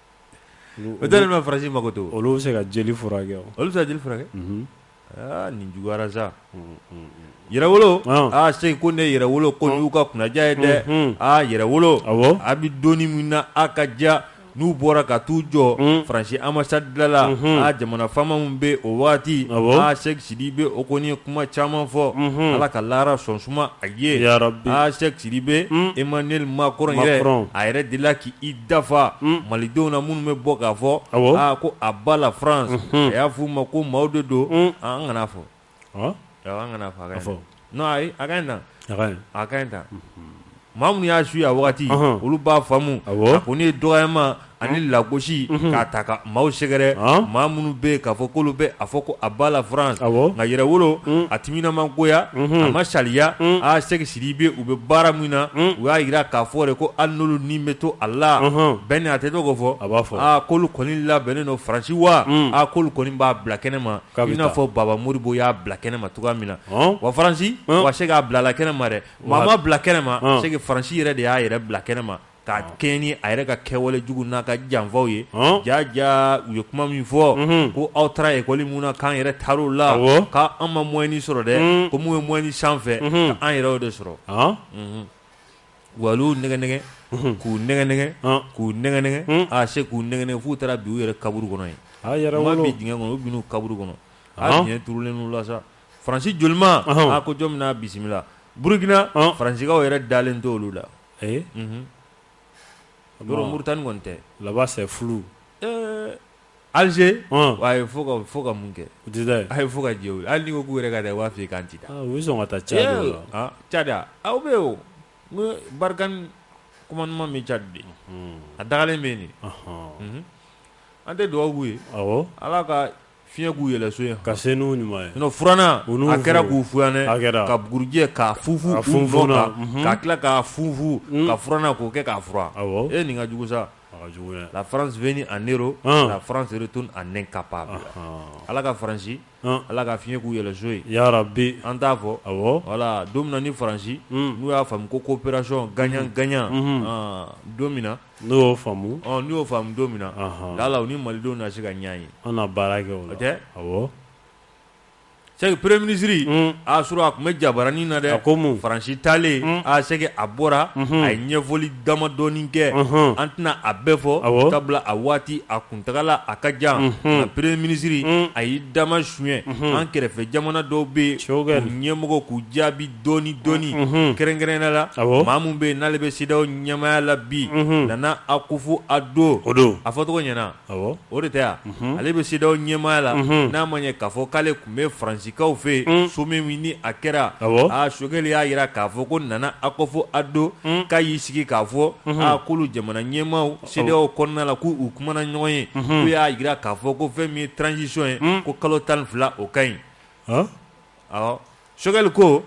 O dalen bɛ faransi mako to olu bɛ se ka jeli furakɛ olu bɛ se jeli furakɛ aa nin juguyara sa yɛrɛwolo aa Cheick ko ne yɛrɛwolo ko y'u ka kunnaja ye dɛ aa yɛrɛwolo a bɛ don min na a ka ja n'u bɔra ka t'u jɔ faransi ambassade da la a jamana faama min bɛ o waati a Cheick Sidibé o kɔni ye kuma caman fɔ ala ka lahara sɔn suma a ye Cheick Sidibé Emmanuel Macron a yɛrɛ de la k' dafa malidenw na minnu bɛ bɔ k'a fɔ aa ko à bas la France a y'a f' u ma ko maaw de don an kana fɔ kana fɔ fɔ n' ayi a ka ɲi tan a ka ɲi tan maa minnu y'a suivre a waati olu b'a faamu a ko nin ye dɔgɔyama ani lagosi k'a ta ka maaw sɛgɛrɛ maa minnu bɛ k'a fɔ k'olu bɛ a fɔ ko à bas la France nka yɛrɛwolo a timina ma goya a ma saliya aa Cheick Sidibé u bɛ baara min na u y'a jira k'a fɔ de ko ali n'olu ni bɛ to a la bɛn nin a tɛ to k'o fɔ a b'a fɔ aa k'olu kɔni labɛnnen don faransi wa a k'olu kɔni b'a bila kɛnɛ ma i n'a fɔ baba Modibo y'a bila kɛnɛ ma cogoya min na wa faransi wa Cheick a bilala kɛnɛ ma dɛ maa m'a bila kɛnɛ ma Cheick faransi yɛrɛ de y'a yɛrɛ bila kɛnɛ ma Ka kɛɲɛ ni a yɛrɛ ka kɛwale jugu n'a ka janfaw ye ja ja u ye kuma min fɔ ko aw taara école mun na k'an yɛrɛ taar'a la k'an ma moyenne sɔrɔ dɛ ko mun bɛ moyenne sanfɛ k'an yɛrɛ de sɔrɔ wa nɛgɛ nɛgɛ k'u nɛgɛ nɛgɛ k'u nɛgɛ nɛgɛ a se k'u nɛgɛ f'u taara bin u yɛrɛ kaburu kɔnɔ yen u ma bin dingɛ kɔnɔ u binna kaburu kɔnɔ a dingɛ turulen la sa faransi jolima a ko jɔn bɛna bisimila burukina faransikaw yɛrɛ dalen tɛ olu la Ee mori tan ɲɔgɔn tɛ laban fɛ furu alize a fo ka mun kɛ a ye fo ka jɛ hali ko yɛrɛ ka dɛ b'a fɔ i kan cita sɔn ka taa ca aw bɛ yen n barika kuma ɲuman min cadi de a dalen bɛ nin an tɛ dugawubabubu ye ala ka Fiɲɛ k'u yɛlɛso ye ka se n'u ɲuman ye sinon furanna u n'u a kɛra k'u fuyanɛ a kɛra ka bugurijɛ k'a funfun ka funfun u nɔ na la unhun ka tila k'a funfun unnn ka furanna k'o kɛ k'a furan awɔ ee nin ka jugu sa a ka jugu dɛ la France venue en héros ɔɔn la France retourne en incapable anhaan Ala ka Fransi ɔɔn Ala ka fiɲɛ k'u yɛlɛso ye yarabi an t'a fɔ awɔ voilà don min na ni Fransi unnn n'u y'a faamu ko coopération gagnant gagnant unhun ɔɔn don min na N'u y'o faamu ɔ n'u y'o faamu don min na anhan lala u ni malidenw na se ka ɲɔgɔn ye an na baara kɛ o la o tɛ awɔ c'est que premier ministre unnn aa surɔ a tun bɛ jabaranin na dɛ a ko mun France taalen unh aa c'est que a bɔra unhun a ye ɲɛfɔli damadɔɔni kɛ unhun an tɛna a bɛɛ fɔ awɔ sabula a waati a kuntagala a ka jan unhun nka premier ministre unh a y'i dama suɲɛ unhun an kɛrɛfɛ jamana dɔw bɛ yen k'u ɲɛmɔgɔ k'u jaabi dɔɔni dɔɔni Unhun kɛrɛnkɛrɛnnenya la awɔ maa min bɛ yen n'ale bɛ CEDEAO ɲɛmaaya la bi Unhun Nana Akufo-Addo o don a fɔcogo ɲɛna awɔ o de tɛ wa Unhun ale bɛ CEDEAO ɲɛmaaya la Unhun n'a m'a ye k'a fɔ k'ale tun bɛ Faransikaw fɛ yen un sommet min ni a kɛra awɔ aa Choguel y'a jira k'a fɔ ko Nana Akufo-Addo un k'a y'i sigi k'a fɔ Unhun aa k'olu jamana ɲɛmaaw CEDEAO kɔnɔna la k'u u kumana ɲɔgɔn ye Unhun k'u y'a jira k'a fɔ ko fɛn min ye transition ye un ko kalo tan ni fila o ka ɲi ɔɔ awɔ Choguel ko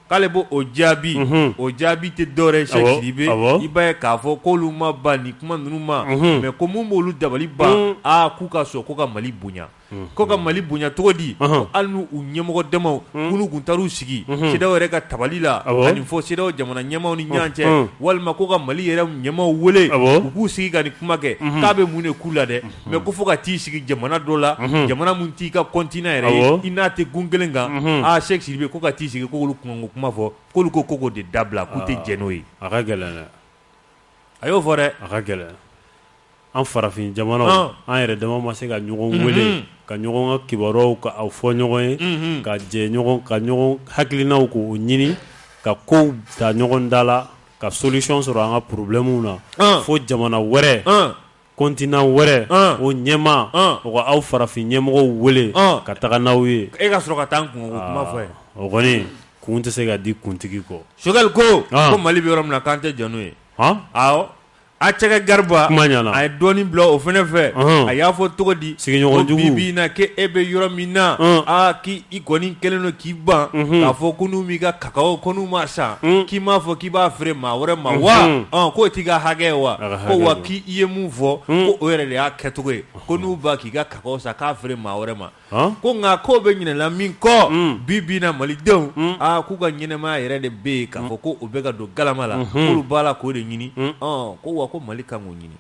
k'ale b'o jaabi o jaabi tɛ dɔwɛrɛ ye Cheick Sidibé i b'a ye k'a fɔ k'olu ma ban nin kuma ninnu ma mais ko mun b'olu dabali ban aa k'u ka sɔn ko ka mali bonya ko ka mali bonya cogo di hali n'u ɲɛmɔgɔ dama olu tun taar'u sigi CEDEAO yɛrɛ ka tabali la ka nin fɔ CEDEAO jamana ɲɛmaaw ni ɲɔgɔn cɛ walima ko ka mali yɛrɛ ɲɛmaaw weele u k'u sigi ka nin kuma kɛ k'a bɛ mun de k'u la dɛ mais ko fo ka t'i sigi jamana dɔ la jamana min t'i ka continent yɛrɛ ye i n'a tɛ gun kelen kan aaa Cheick Sidibé ko ka t'i sigi k'olu kun kuma fɔ k'olu ko ko k'o de dabila k'u tɛ jɛn n'o ye a ka gɛlɛn a y'o fɔ dɛ a ka gɛlɛn an farafin jamanaw an yɛrɛ dama ma se ka ɲɔgɔn weele ka ɲɔgɔn ka kibaruyaw k'a fɔ ɲɔgɔn ye ka jɛ ka ɲɔgɔn hakilinaw k'o ɲini ka kow ta ɲɔgɔn da la ka solution sɔrɔ an ka problèmew na fo jamana wɛrɛ Continent wɛrɛ, an, o ɲɛmaa, an, o ka aw farafin ɲɛmɔgɔw wele, an, ka taga n'aw ye, e ka sɔrɔ ka taa an kun, o kuma fɔ yen, aa, o kɔni kun tɛ se ka di kuntigi kɔ. Choguel ko, an, ko Mali bɛ yɔrɔ min na k'an tɛ jɛn n'o ye, han, awɔ, Acɛkɛ Gariba, kuma ɲɛna, a ye dɔɔnin bila o fana fɛ, ɔnhɔn, a y'a fɔ cogo di, sigiɲɔgɔn jugu, ko bi bi in na k'e bɛ yɔrɔ min na, ɔn, aa k'i kɔni kɛlen don k'i ban, unhun, k'a fɔ ko n'u m'i ka cacao ko n'u m'a san k'i m'a fɔ k'i b'a feere maa wɛrɛ ma wa k'o t'i ka hakɛ ye wa ko wa k'i ye mun fɔ ko o yɛrɛ de y'a kɛcogo ye ko n'u ban k'i ka cacao san k'a feere maa wɛrɛ ma ko nka k'o bɛ ɲinɛla min kɔ bi bi na malidenw aa k'u ka ɲɛnamaya yɛrɛ de bɛ yen k'a fɔ ko o bɛ ka don galama la k'olu b'a la k'o de ɲini ko wa ko mali ka k'o ɲini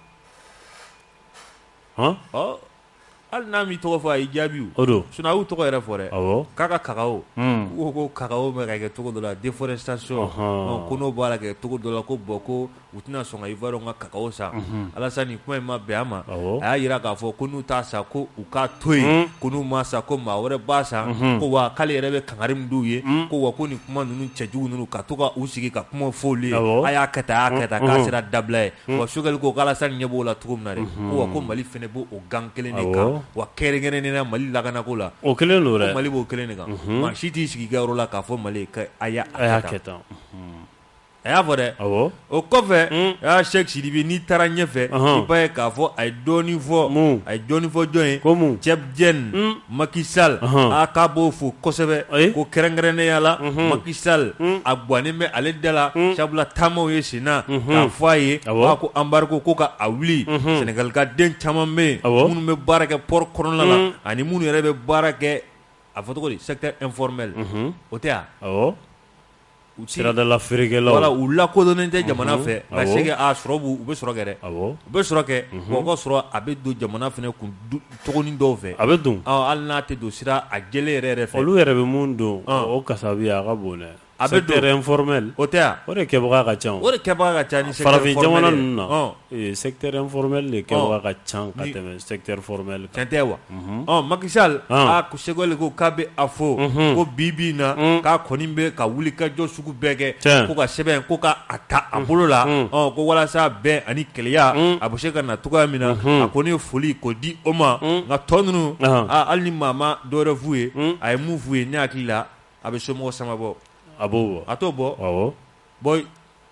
Hali n'a m'i tɔgɔ fɔ a y'i jaabi o o don sinon a y'u tɔgɔ yɛrɛ fɔ dɛ awɔ k'a ka cacao unn u ko ko cacao bɛ ka kɛ cogo dɔ la déforestation ɔnhɔɔn ɔ ko n'o b'a la kɛ cogo dɔ la ko bon ko u tɛna sɔn ka ivoirien ka cacao san unhun Alassane nin kuma in ma bɛn a ma awɔ a y'a jira k'a fɔ ko n'u t'a san ko u k'a to yen unnn ko n'u m'a san ko maa wɛrɛ b'a san unhun ko wa k'ale yɛrɛ bɛ kangari min d'u ye unnn ko wa ko nin kuma ninnu cɛjugu ninnu ka to ka u sigi ka kumaw fɔ olu ye awɔ a y'a kɛ tan a y'a kɛ tan unhun k'a sera dabila ye wa sokɛli ko k'alasani ɲɛ b'o la cogo min na dɛ ko wa ko mali fɛnɛ b'o o gan kelen de kan wa kɛrɛnkɛrɛnnenya mali lakanako la o kelen don mali b'o kelen de kan maa si t'i sigi i ka yɔrɔ la k'a fɔ mali a a y'a kɛ tan a y'a fɔ dɛ o kɔfɛ a sɛki sidibe n'i taara ɲɛfɛ i b'a ye k'a fɔ a ye dɔɔnin fɔ a ye dɔɔnin fɔ jɔn ye ko cɛ Maki sal a k'a b'o fo kosɛbɛ ko kɛrɛnkɛrɛnnenya la maki sal a gannen bɛ ale da la sabula taamaw ye sen na k'a fɔ a ye wa ko embargo ko k'a wuli senegali ka den caman bɛ yen minnu bɛ baara kɛ port kɔnɔna la ani minnu yɛrɛ bɛ baara kɛ a fɔ cogo di secteur informel o tɛ yan U siradala feerekɛlaw wala u lakodɔnnen tɛ jamana fɛ nka c'est que sɔrɔ u bɛ sɔrɔ kɛ dɛ u bɛ sɔrɔ kɛ wa u ka sɔrɔ a bɛ don jamana fana kun cogonin dɔw fɛ a bɛ don hali n'a tɛ don sira jɛlen yɛrɛ fɛ olu yɛrɛ bɛ min don o kasabiya a ka bon dɛ a secteur informel o tɛ ya o de kɛbaga ka ca o de kɛbaga ka ca ni farafin jamana ninnu na Ee secteur informel de kɛbaga ka ca ka tɛmɛ secteur formel kan tiɲɛ tɛ wa ɔ makisali aa sokɛli ko k'a bɛ a fɔ ko bi bi in na k'a kɔni bɛ ka wuli ka jɔ sugu bɛɛ kɛ ko ka sɛbɛn ko k'a ta a bolo la ko walasa bɛn ani kelenya a bɛ se ka na cogoya min na a kɔni ye foli ko di o ma nka tɔ ninnu hali ni maa ma dɔwɛrɛ f'u ye a ye mun f'u ye ne hakili la a bɛ somɔgɔw sama bɔ a b'o bɔ a t'o bɔ Bon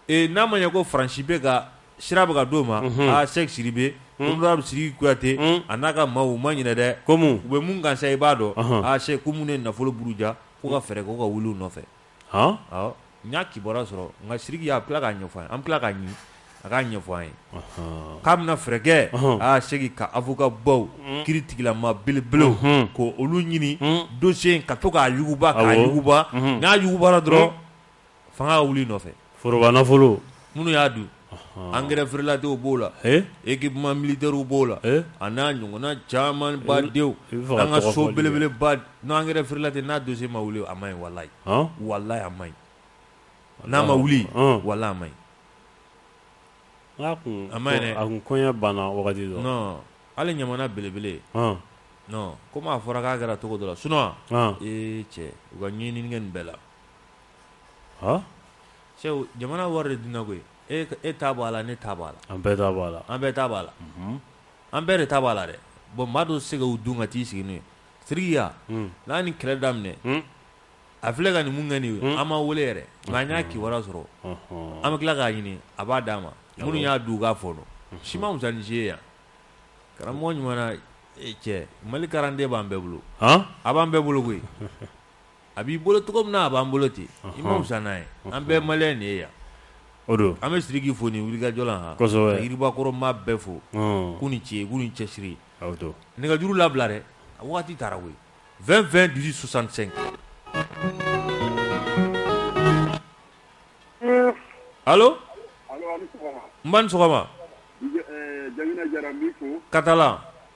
ee n'a ma ɲɛ ko Faransi bɛ ka sira bɛ ka d'o ma, unhun, aa Sɛki Sidibe, un, honorable Sidiki Kuyate, un, a n'a ka maaw u ma ɲinɛ dɛ, ko mun, u bɛ mun kan sa i b'a dɔn, ɔnhɔn, aa Sɛki ko minnu ye nafolo buruja k'u ka fɛɛrɛ kɛ u ka wuli u nɔfɛ, han, awɔ, n y'a kibaruya sɔrɔ nka Sidiki y'a tila k'a ɲɛfɔ an ye, an bɛ tila k'a ɲini a k'a ɲɛfɔ an ye, ɔnhɔn, k'a bɛna fɛɛrɛ kɛ, ɔnhɔn, aa Sɛki ka avocat baw, un, kiiri tigilamaa belebelew, unhun, k'olu ɲini, un, dossier in ka to k'a yuguba, awɔ, k'a yuguba, unhun, n'a yugubara dɔrɔn, un fanga ka wuli nɔfɛ foroba nafolo minnu y'a dun engrais frelatéw b'o la équipement militaire b'o la a n'a ɲɔgɔnna caman badenw an ka so belebeleba n engrais frelaté n'a dossier ma wuli a man ɲi walayi walayi a man ɲi n'a ma wuli walayi a man ɲi n'a kun a man ɲi dɛ a kun kɔɲɛ banna wagati dɔ non hali ɲamana belebele non comme a fɔra k'a kɛra cogo dɔ la sinon ee cɛ u ka ɲɛɲini kɛ nin bɛɛ la jamana wari dun koyi e e t' bɔ a la ne t' bɔ a la an bɛɛ bɔ a la an bɛɛ t' bɔ a la an bɛɛ de t' bɔ a la dɛ bɔn maa dɔ se ka'u dun ka t'i sigi ye siriya n'a ni kɛlɛ daminɛ a filɛ ka nin mun kɛ nin ye an ma weele yɛrɛ nka n y'a kii sɔrɔ an bɛ tila k'a ɲini a b'a d'a ma minnu y'a du k'a fɔ dɔn si ma fisa ni si ye yan karamɔgɔ ɲuman cɛ malikaran den b'an bɛɛ bolo a b'an bɛɛ bolo koyi a b'i bolo cogo min na a b'an bolo ten i man fisa n'an ye an bɛɛ maliyɛn de ye yan o don an bɛ Sidiki fo nin wulikajɔ la han kosɛbɛ ka Yiribakɔrɔ maa bɛɛ fo ɔɔ k'u ni ce k'u ni cɛsiri a o don nɛgɛjuru labila dɛ a wagati taara koyi 20 20 18 65 allo allo a' ni sɔgɔma n ba ni sɔgɔma Jakinɛ Jara n b'i fo Katalan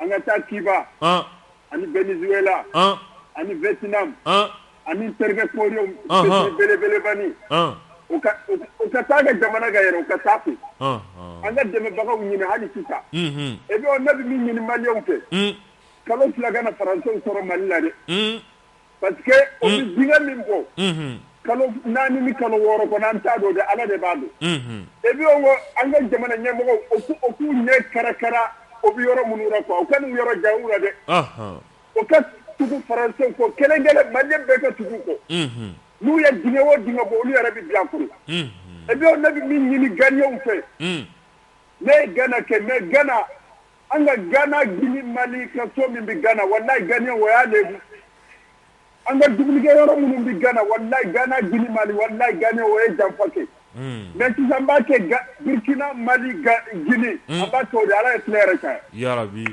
An ka taa Cuba ani Venezuela ani Vietnam ani terikɛ Koreyɛn belebeleba nin u ka taa ka jamana ka yɛrɛ u ka taa ka an ka dɛmɛbagaw ɲini hali sisan et puis ne bɛ min ɲini maliyɛnw fɛ kalo fila kana faransɛw sɔrɔ Mali la dɛ Pa min ko kalo naani ni kalo wɔɔrɔ ko an t'a don de ala de b'a don e bɛ ko an ka jamana ɲɛmɔgɔ o k'u ɲɛ kɛra kɛra o bɛ yɔrɔ minnu la u ka yɔrɔ ja la dɛ o ka tugu farasen ko kelen manden bɛɛ ka tugu kɔ n'u ye d o d bɔ olu yɛrɛ bɛ bilakoro e ne bɛ min ɲini gaw fɛ ne ye gana kɛ ne gana An ka gana gili mali ka so min bɛ gana wa n'a gan o y'a de an ka dugujɛ yɔrɔ minnu bɛ gana wa gana g mali wa n'a gan o ye janfa kɛ mɛtizsan b'a kɛ gkina mali ginin a b'a to di ala ye tile yɛrɛ kan yabi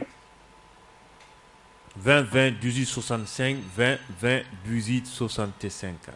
vɛn2 dusu sonsan72 z sonsan tɛ sen kan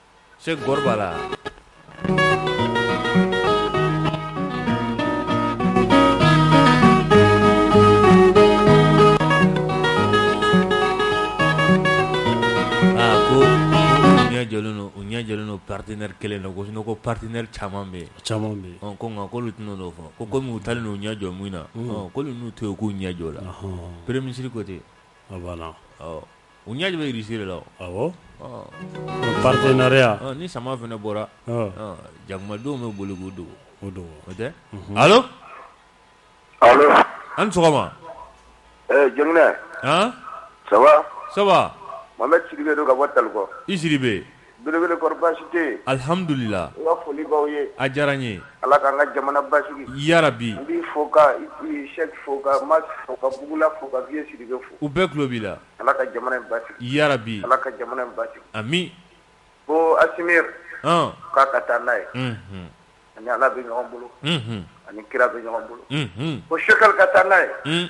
se kɔrɔ la u ɲɛjɛlen pariteteri kelen don ko sun ko pateɛnri caman bɛ caman bɛ ko nka ko olu tɛna dɔw fɔ ko kɔmi taa n' ɲɛ jɔ min na ko n'u to yen k'u ɲɛ jɔ la pere minisiriri ko ten U ɲɛ bɛ siri la patereya ni sama fana bɔra jakumadenw bɛ boli o don o don o tɛ an sɔgɔma jɛgɛ saba saba an bɛ siri don ka bɔ talikɔ i siri bɛ Belebele kɔrɔ baasi tɛ yen? Alihamudulila. N ka foli b'aw ye. A diyara n ye. Ala k'an ka jamana basigi. Yarabi! N b'i fo ka Sɛki fo ka Mas fo ka Bugula fo ka Wiye Sidibe fo. U bɛɛ tulo b'i la. Ala ka jamana in basigi. Yarabi! Ala ka jamana in basigi. Ami! Ko Asimi. Ɔn! K'a ka taa n'a ye. Unhun! A ni Ala bɛ ɲɔgɔn bolo. Unhun! A ni kira bɛ ɲɔgɔn bolo. Unhun! Ko Sogɛli ka taa n'a ye. Un!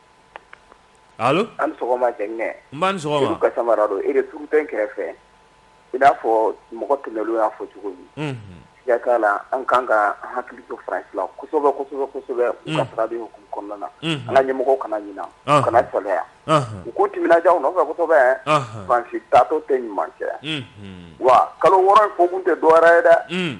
allo a' ni sɔgɔma Jɛnginɛ nba' ni sɔgɔma Sedu Kassambara don e de tuuru tɔn kɛrɛfɛ i n'a fɔ mɔgɔ tɛmɛnenw y'a fɔ cogo min unhun siga t'a la an kan ka an hakili to France la kosɛbɛ kosɛbɛ kosɛbɛ unhun u ka taga bolo hukumu kɔnɔna na unhun an ka ɲɛmɔgɔw kana ɲina anhan u kana salaya anhan u k'u timinadiya u nɔfɛ kosɛbɛ anhan France taatɔ tɛ ɲuman kɛ unhun wa kalo 6 in fɔkun tɛ dɔwɛrɛ ye dɛ unn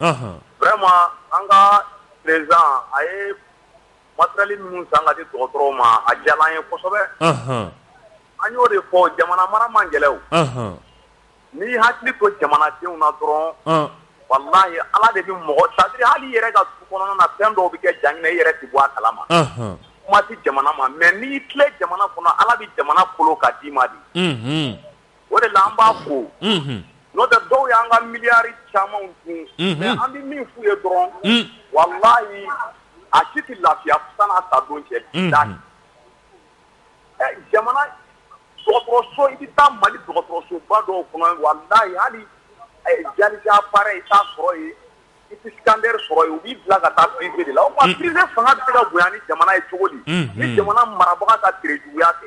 vraiment an ka président a ye matériel minnu san ka di dɔgɔtɔrɔw ma a diyara an ye kosɛbɛ an y'o de fɔ jamana mara man gɛlɛn n'i hakili to jamanadenw na dɔrɔn wallahi ala de bɛ mɔgɔ c'est-à-dire hali i yɛrɛ ka du kɔnɔna na fɛn dɔw bɛ kɛ Jɛnginɛ i yɛrɛ tɛ bɔ a kala ma kuma tɛ jamana ma mais n'i tile jamana kɔnɔ ala bɛ jamana kolo ka d'i ma dɛ o de la an b'a fo n'o tɛ dɔw y'an ka miliyari caman dun mais an bɛ min f'u ye dɔrɔn wallahi a si tɛ lafiya san'a sa don cɛ jamana dɔgɔtɔrɔso i bɛ taa mali dɔgɔtɔrɔsoba dɔw kɔnɔ wallahi hali dialyse appareil i t'a sɔrɔ yen i tɛ scanner sɔrɔ yen u b'i bila ka taa privé de la o kuma privé fanga bɛ se ka bonya ni jamana ye cogo di ni jamana marabaga ka terejuguya tɛ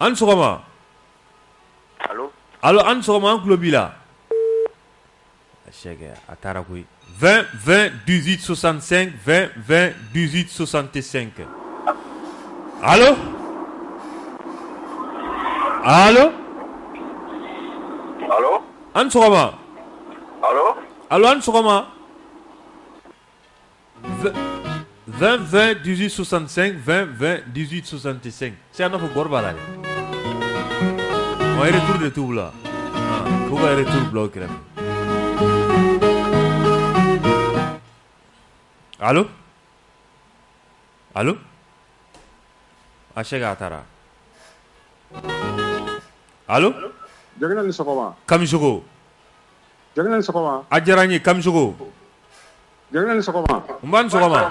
an sɔgɔma an sɔgɔma an tulo b'i la a taara koyi dususanfɛn dususan tɛ sen kɛ an sɔgɔma an sɔgɔma 2 dizsusan2 2 dizsusan tɛ se se fɔ bɔra la dɛ tu de tu la ko yɛrɛ tu bila kira a se a taara kami a diyara n ye kami Jɛnginɛ ni sɔgɔma. Nba ni sɔgɔma.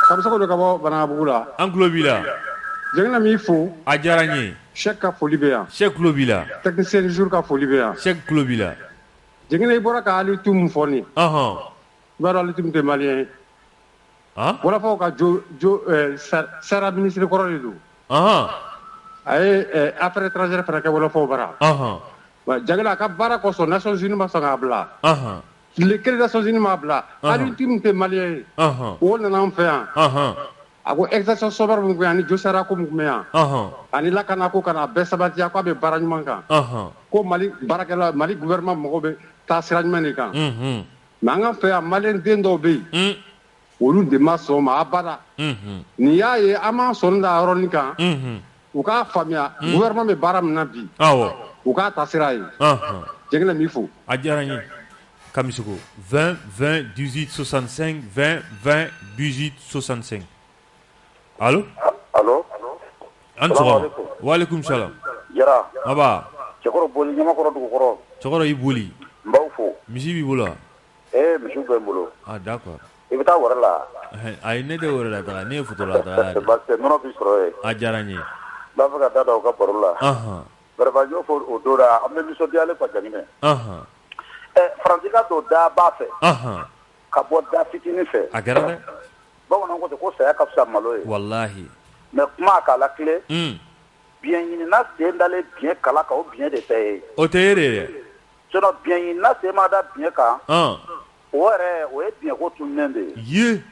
Kamisoko don ka bɔ Banankabugu la. An tulo b'i la. Jɛnginɛ n b'i fo. A diyara n ye. Sɛki ka foli bɛ yan. Sɛki tulo b'i la. Technicien du jour ka foli bɛ yan. Sɛki tulo b'i la. Jɛnginɛ i bɔra ka Ali Tum fɔ nin ye. Ɔnhɔn. I b'a dɔn Ali Tum tɛ malien ye. Han? Wɔlɔfɔw ka jo jo ɛɛ sar sara ministre kɔrɔ de don. Ɔnhɔn. A ye ɛɛ affaires étrangères fana kɛ wɔlɔfɔw bara. Ɔnhɔn. Wa Jɛnginɛ a ka baara kosɔn Nations Unies ma sɔn k'a bila. Ɔnhɔn. Tile kelen Nations unies m'a bila Alioune Tine tɛ maliyɛn ye o nana an fɛ yan a ko exécution sommaire mun yan ani josara ko mun yan ani lakana ko kana bɛɛ sabatiya ko a bɛ baara ɲuman kan ko Mali baarakɛla Mali gouvernement mɔgɔw bɛ taa sira ɲuman de kan mais an ka fɛ yan maliyɛn den dɔw bɛ yen olu de ma sɔn ma abada unhun n'i y'a ye an b'an sɔnni da yɔrɔnin kan unhun u k'a faamuya gouvernement bɛ baara min na bi awɔ u k'a taasira ye anhan Jɛgɛnɛ n b'i fo a diyara n ye Kamisiko 20 20 18 65 20 20 18 65 allo Allo a' ni sɔgɔma salamuhalekum walekum salam Jara nba Cɛkɔrɔ Boli Ɲamakɔrɔ dugukɔrɔ Cɛkɔrɔ i Boli n b'aw fo misi b'i bolo wa Ee misi bɛ n bolo d'accord i bɛ taa wɛrɛ la ayi ne tɛ wɛrɛ la taga ne ye futura la parce que nɔnɔ bɛ sɔrɔ yen a diyara n ye n b'a fɛ ka da da aw ka baro la vraiment n y'o fɔ o don na an bɛ nisɔndiyalen quoi Jakinɛ ɛ Faransi ka don da ba fɛ ka bɔ da fitinin fɛ a kɛra dɛ bamanan ko ten ko saya ka fisa malo ye walahi mais kuma k'a latilen biɲɛ ɲinina sen dalen biɲɛ kala kan o biɲɛ de tɛ ye o tɛ ye de dɛ Sinon biɲɛ ɲinina sen ma da biɲɛ kan, an, o yɛrɛ o ye biɲɛ ko tununnen de ye, ye,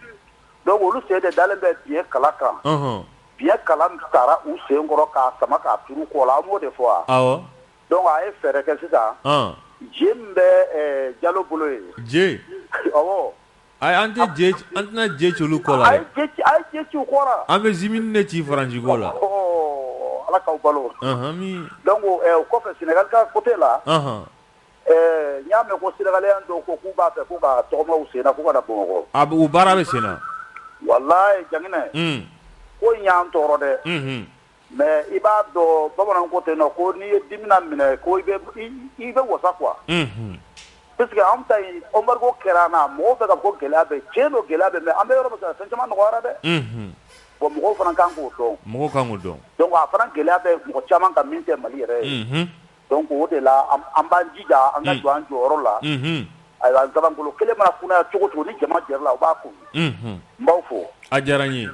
donc olu sen de dalen bɛ biɲɛ kala kan, ɔnhɔn, biɲɛ kala min tara u sen kɔrɔ k'a sama k'a turu u kɔ la, an m'o de fɔ wa, awɔ, donc a ye fɛɛrɛ kɛ sisan, an, je min bɛ ɛ Jalo bolo yen, je, awɔ Ayi an tɛ je an tɛna je ci olu kɔ la dɛ, a ye je ci a ye je ci u kɔ la, an bɛ zimini de ci Faransi kɔ la, ɔɔ Ala k'aw balo, anhan, amin, donc o kɔfɛ Senegal ka côté la, anhan, ɛɛ n y'a mɛn ko senegalien dɔw ko k'u b'a fɛ k'u ka tɔgɔma u senna k'u ka na Bamakɔ, a bɛ o baara bɛ senna, walayi Jakinɛ, un, ko in y'an tɔɔrɔ dɛ, unhun Mais i b'a dɔn bamanan ko ten ko n'i ye dimi naminɛ ko i bɛ wasa quoi parce que an ta embargo kɛra an na mɔgɔw bɛ k'a fɔ ko gɛlɛya bɛ tiɲɛ don gɛlɛya bɛ mais an bɛ yɔrɔ min fɛn caman nɔgɔyara dɛ bon mɔgɔw fana kan k'o dɔn mɔgɔw kan k'o dɔn donc a fana gɛlɛya bɛ mɔgɔ caman kan min tɛ Mali yɛrɛ ye donc o de la an b'an jija an ka jɔ an jɔyɔrɔ la ayiwa nsabankolo kelen mana kunaya cogo cogo ni jama jɛra a la u b'a kun n b'aw fo a diyara n ye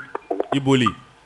i boli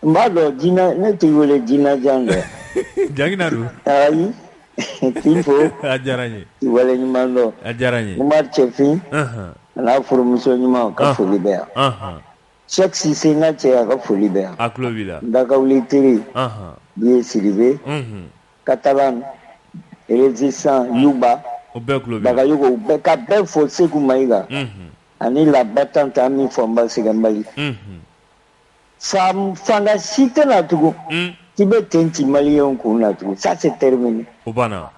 N b'a dɔn Jina ne t'i wele Jinajan dɛ Jangina don ayi k'i fo a diyara n ye k'i waleɲuman dɔn a diyara n ye Umar Cɛfin anhan a n'a furumuso ɲuman u ka Ɔnhɔn. foli bɛ yan anhan Sɛki Sise n ka cɛ a ka foli bɛ yan a tulo b'i la Dakawuli Tere anhan Biye Sidibe unhun Katalan Rezisan Yuba u bɛɛ tulo b'i la Bagayogo u bɛɛ ka bɛɛ fo Seku Mayiga unhun ani la battante an b'i fo nba Sɛgɛnbali unhun San fanga si tɛ na tugun k'i bɛ ten ci maliyɛnw kun na tugun ça c'est terminé o banna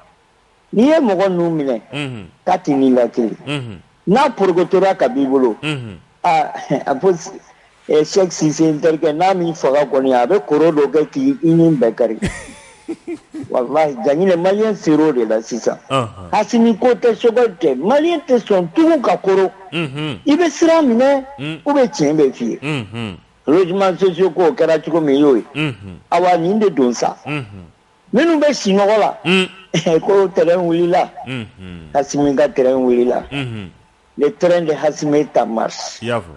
n'i ye mɔgɔ ninnu minɛ ka t'i ni la kelen n'a porokotora ka b'i bolo aa a fɔ Sɛki Sise n terikɛ n'a m'i faga kɔni a bɛ koro dɔ kɛ k'i i nin bɛɛ kari Walahi Jaginɛ maliyɛn ser'o de la sisan, anhan, Asimi ko tɛ Choguel tɛ maliyɛn tɛ sɔn tugun ka koron, unhun, i bɛ sira minɛ ou bien tiɲɛ bɛ f'i ye, unhun, logements sociaux ko o kɛra cogo min i y'o ye, unhun, awa nin de don sa, unhun, minnu bɛ sinɔgɔ la, un, ko train wulila, unhun, Asimi ka train wulila, unhun, le train de Asimi est en marche i y'a fɔ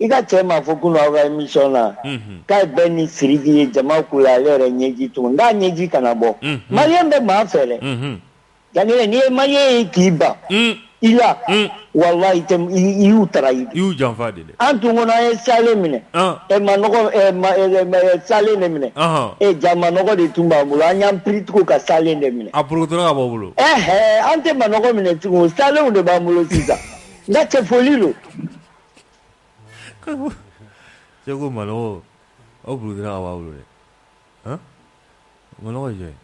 I ka cɛ m'a fɔ kunun aw ka émission na k'a Bɛn ni Siriki ye jama ko la ale yɛrɛ ɲɛji tun n'a ɲɛji kana bɔ maliyɛn bɛ maa fɛ dɛ Jaginɛ n'i ye maliyɛn ye k'i ban i la walahi i y'u trahi y'u janfa de an tun kɔnɔ an ye salen minɛ ɛ salen de minɛ e jaa manɔgɔ de tun b'an bolo an y'an piri tugun ka salen de minɛ a porokotora ka bɔ bolo ɛɛ an tɛ manɔgɔ minɛ tugun salenw de b'an bolo sisan n ka cɛ foli don Cɛ ko manɔgɔ porokotora ka b'a bolo dɛ manɔgɔ jɔn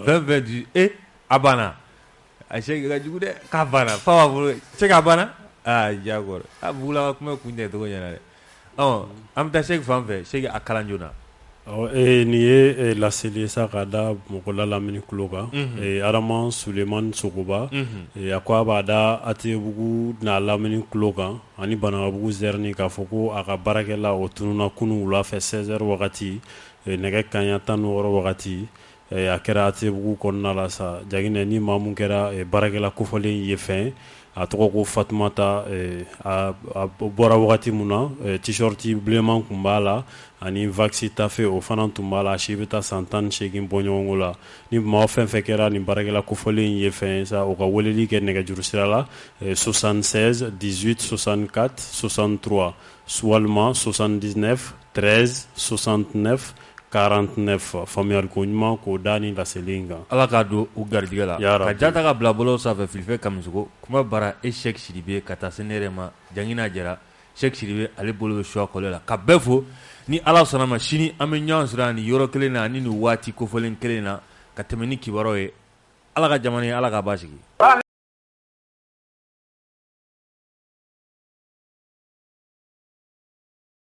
fɛn bɛ di e a banna a cɛ ka jugu dɛ k'a banna fa b'a bolo cɛ k'a banna aa diyagoya a bila ka kuma kun tɛ tɔgɔ ɲɛna dɛ an bɛ taa Sɛki fan fɛ Sɛki a kalan joona nin ye laseli sa k'a da mɔgɔla lamini kulo kan Adama Sulemani Sogoba a ko a b'a da Atebugu n'a lamini kulo kan ani Banankabugu Zɛrini k'a fɔ ko a ka baarakɛla o tununna kunun wula fɛ seize heures wagati nɛgɛ kanɲɛ tan ni wɔɔrɔ wagati A kɛra Atebugu kɔnɔna la sa Jaginɛ ni maa min kɛra baarakɛla kofɔlen ye fɛn a tɔgɔ ko Fatumata a bɔra wagati min na t-shirt bilenman tun b'a la ani wax tafe o fana tun b'a la a si bɛ taa san tan ni segin bɔɲɔgɔnko la ni maa fɛn fɛn kɛra nin baarakɛla kofɔlen ye fɛn sa o ka weleli kɛ nɛgɛjuru sira la 76 18 64 63 walima 79 13 69 49 faamuyali ko ɲuman k'o da ni laseli in kan ala k'a don u garijɛgɛ la ka ja ta ka bila bɔlɔw sanfɛ Filifɛ Kamisɔkɔ kuma bara e Sɛki Sidibe ka taa se ne yɛrɛ ma Jangina Jara Sɛki Sidibe ale bolo bɛ suwa kɔlɛ la ka bɛɛ fo ni ala sɔnna ma sini an bɛ ɲɔgɔn sɔrɔ nin yɔrɔ kelen na ani nin waati kofɔlen kelen na ka tɛmɛ ni kibaruw ye ala ka jamana ye ala k'a basigi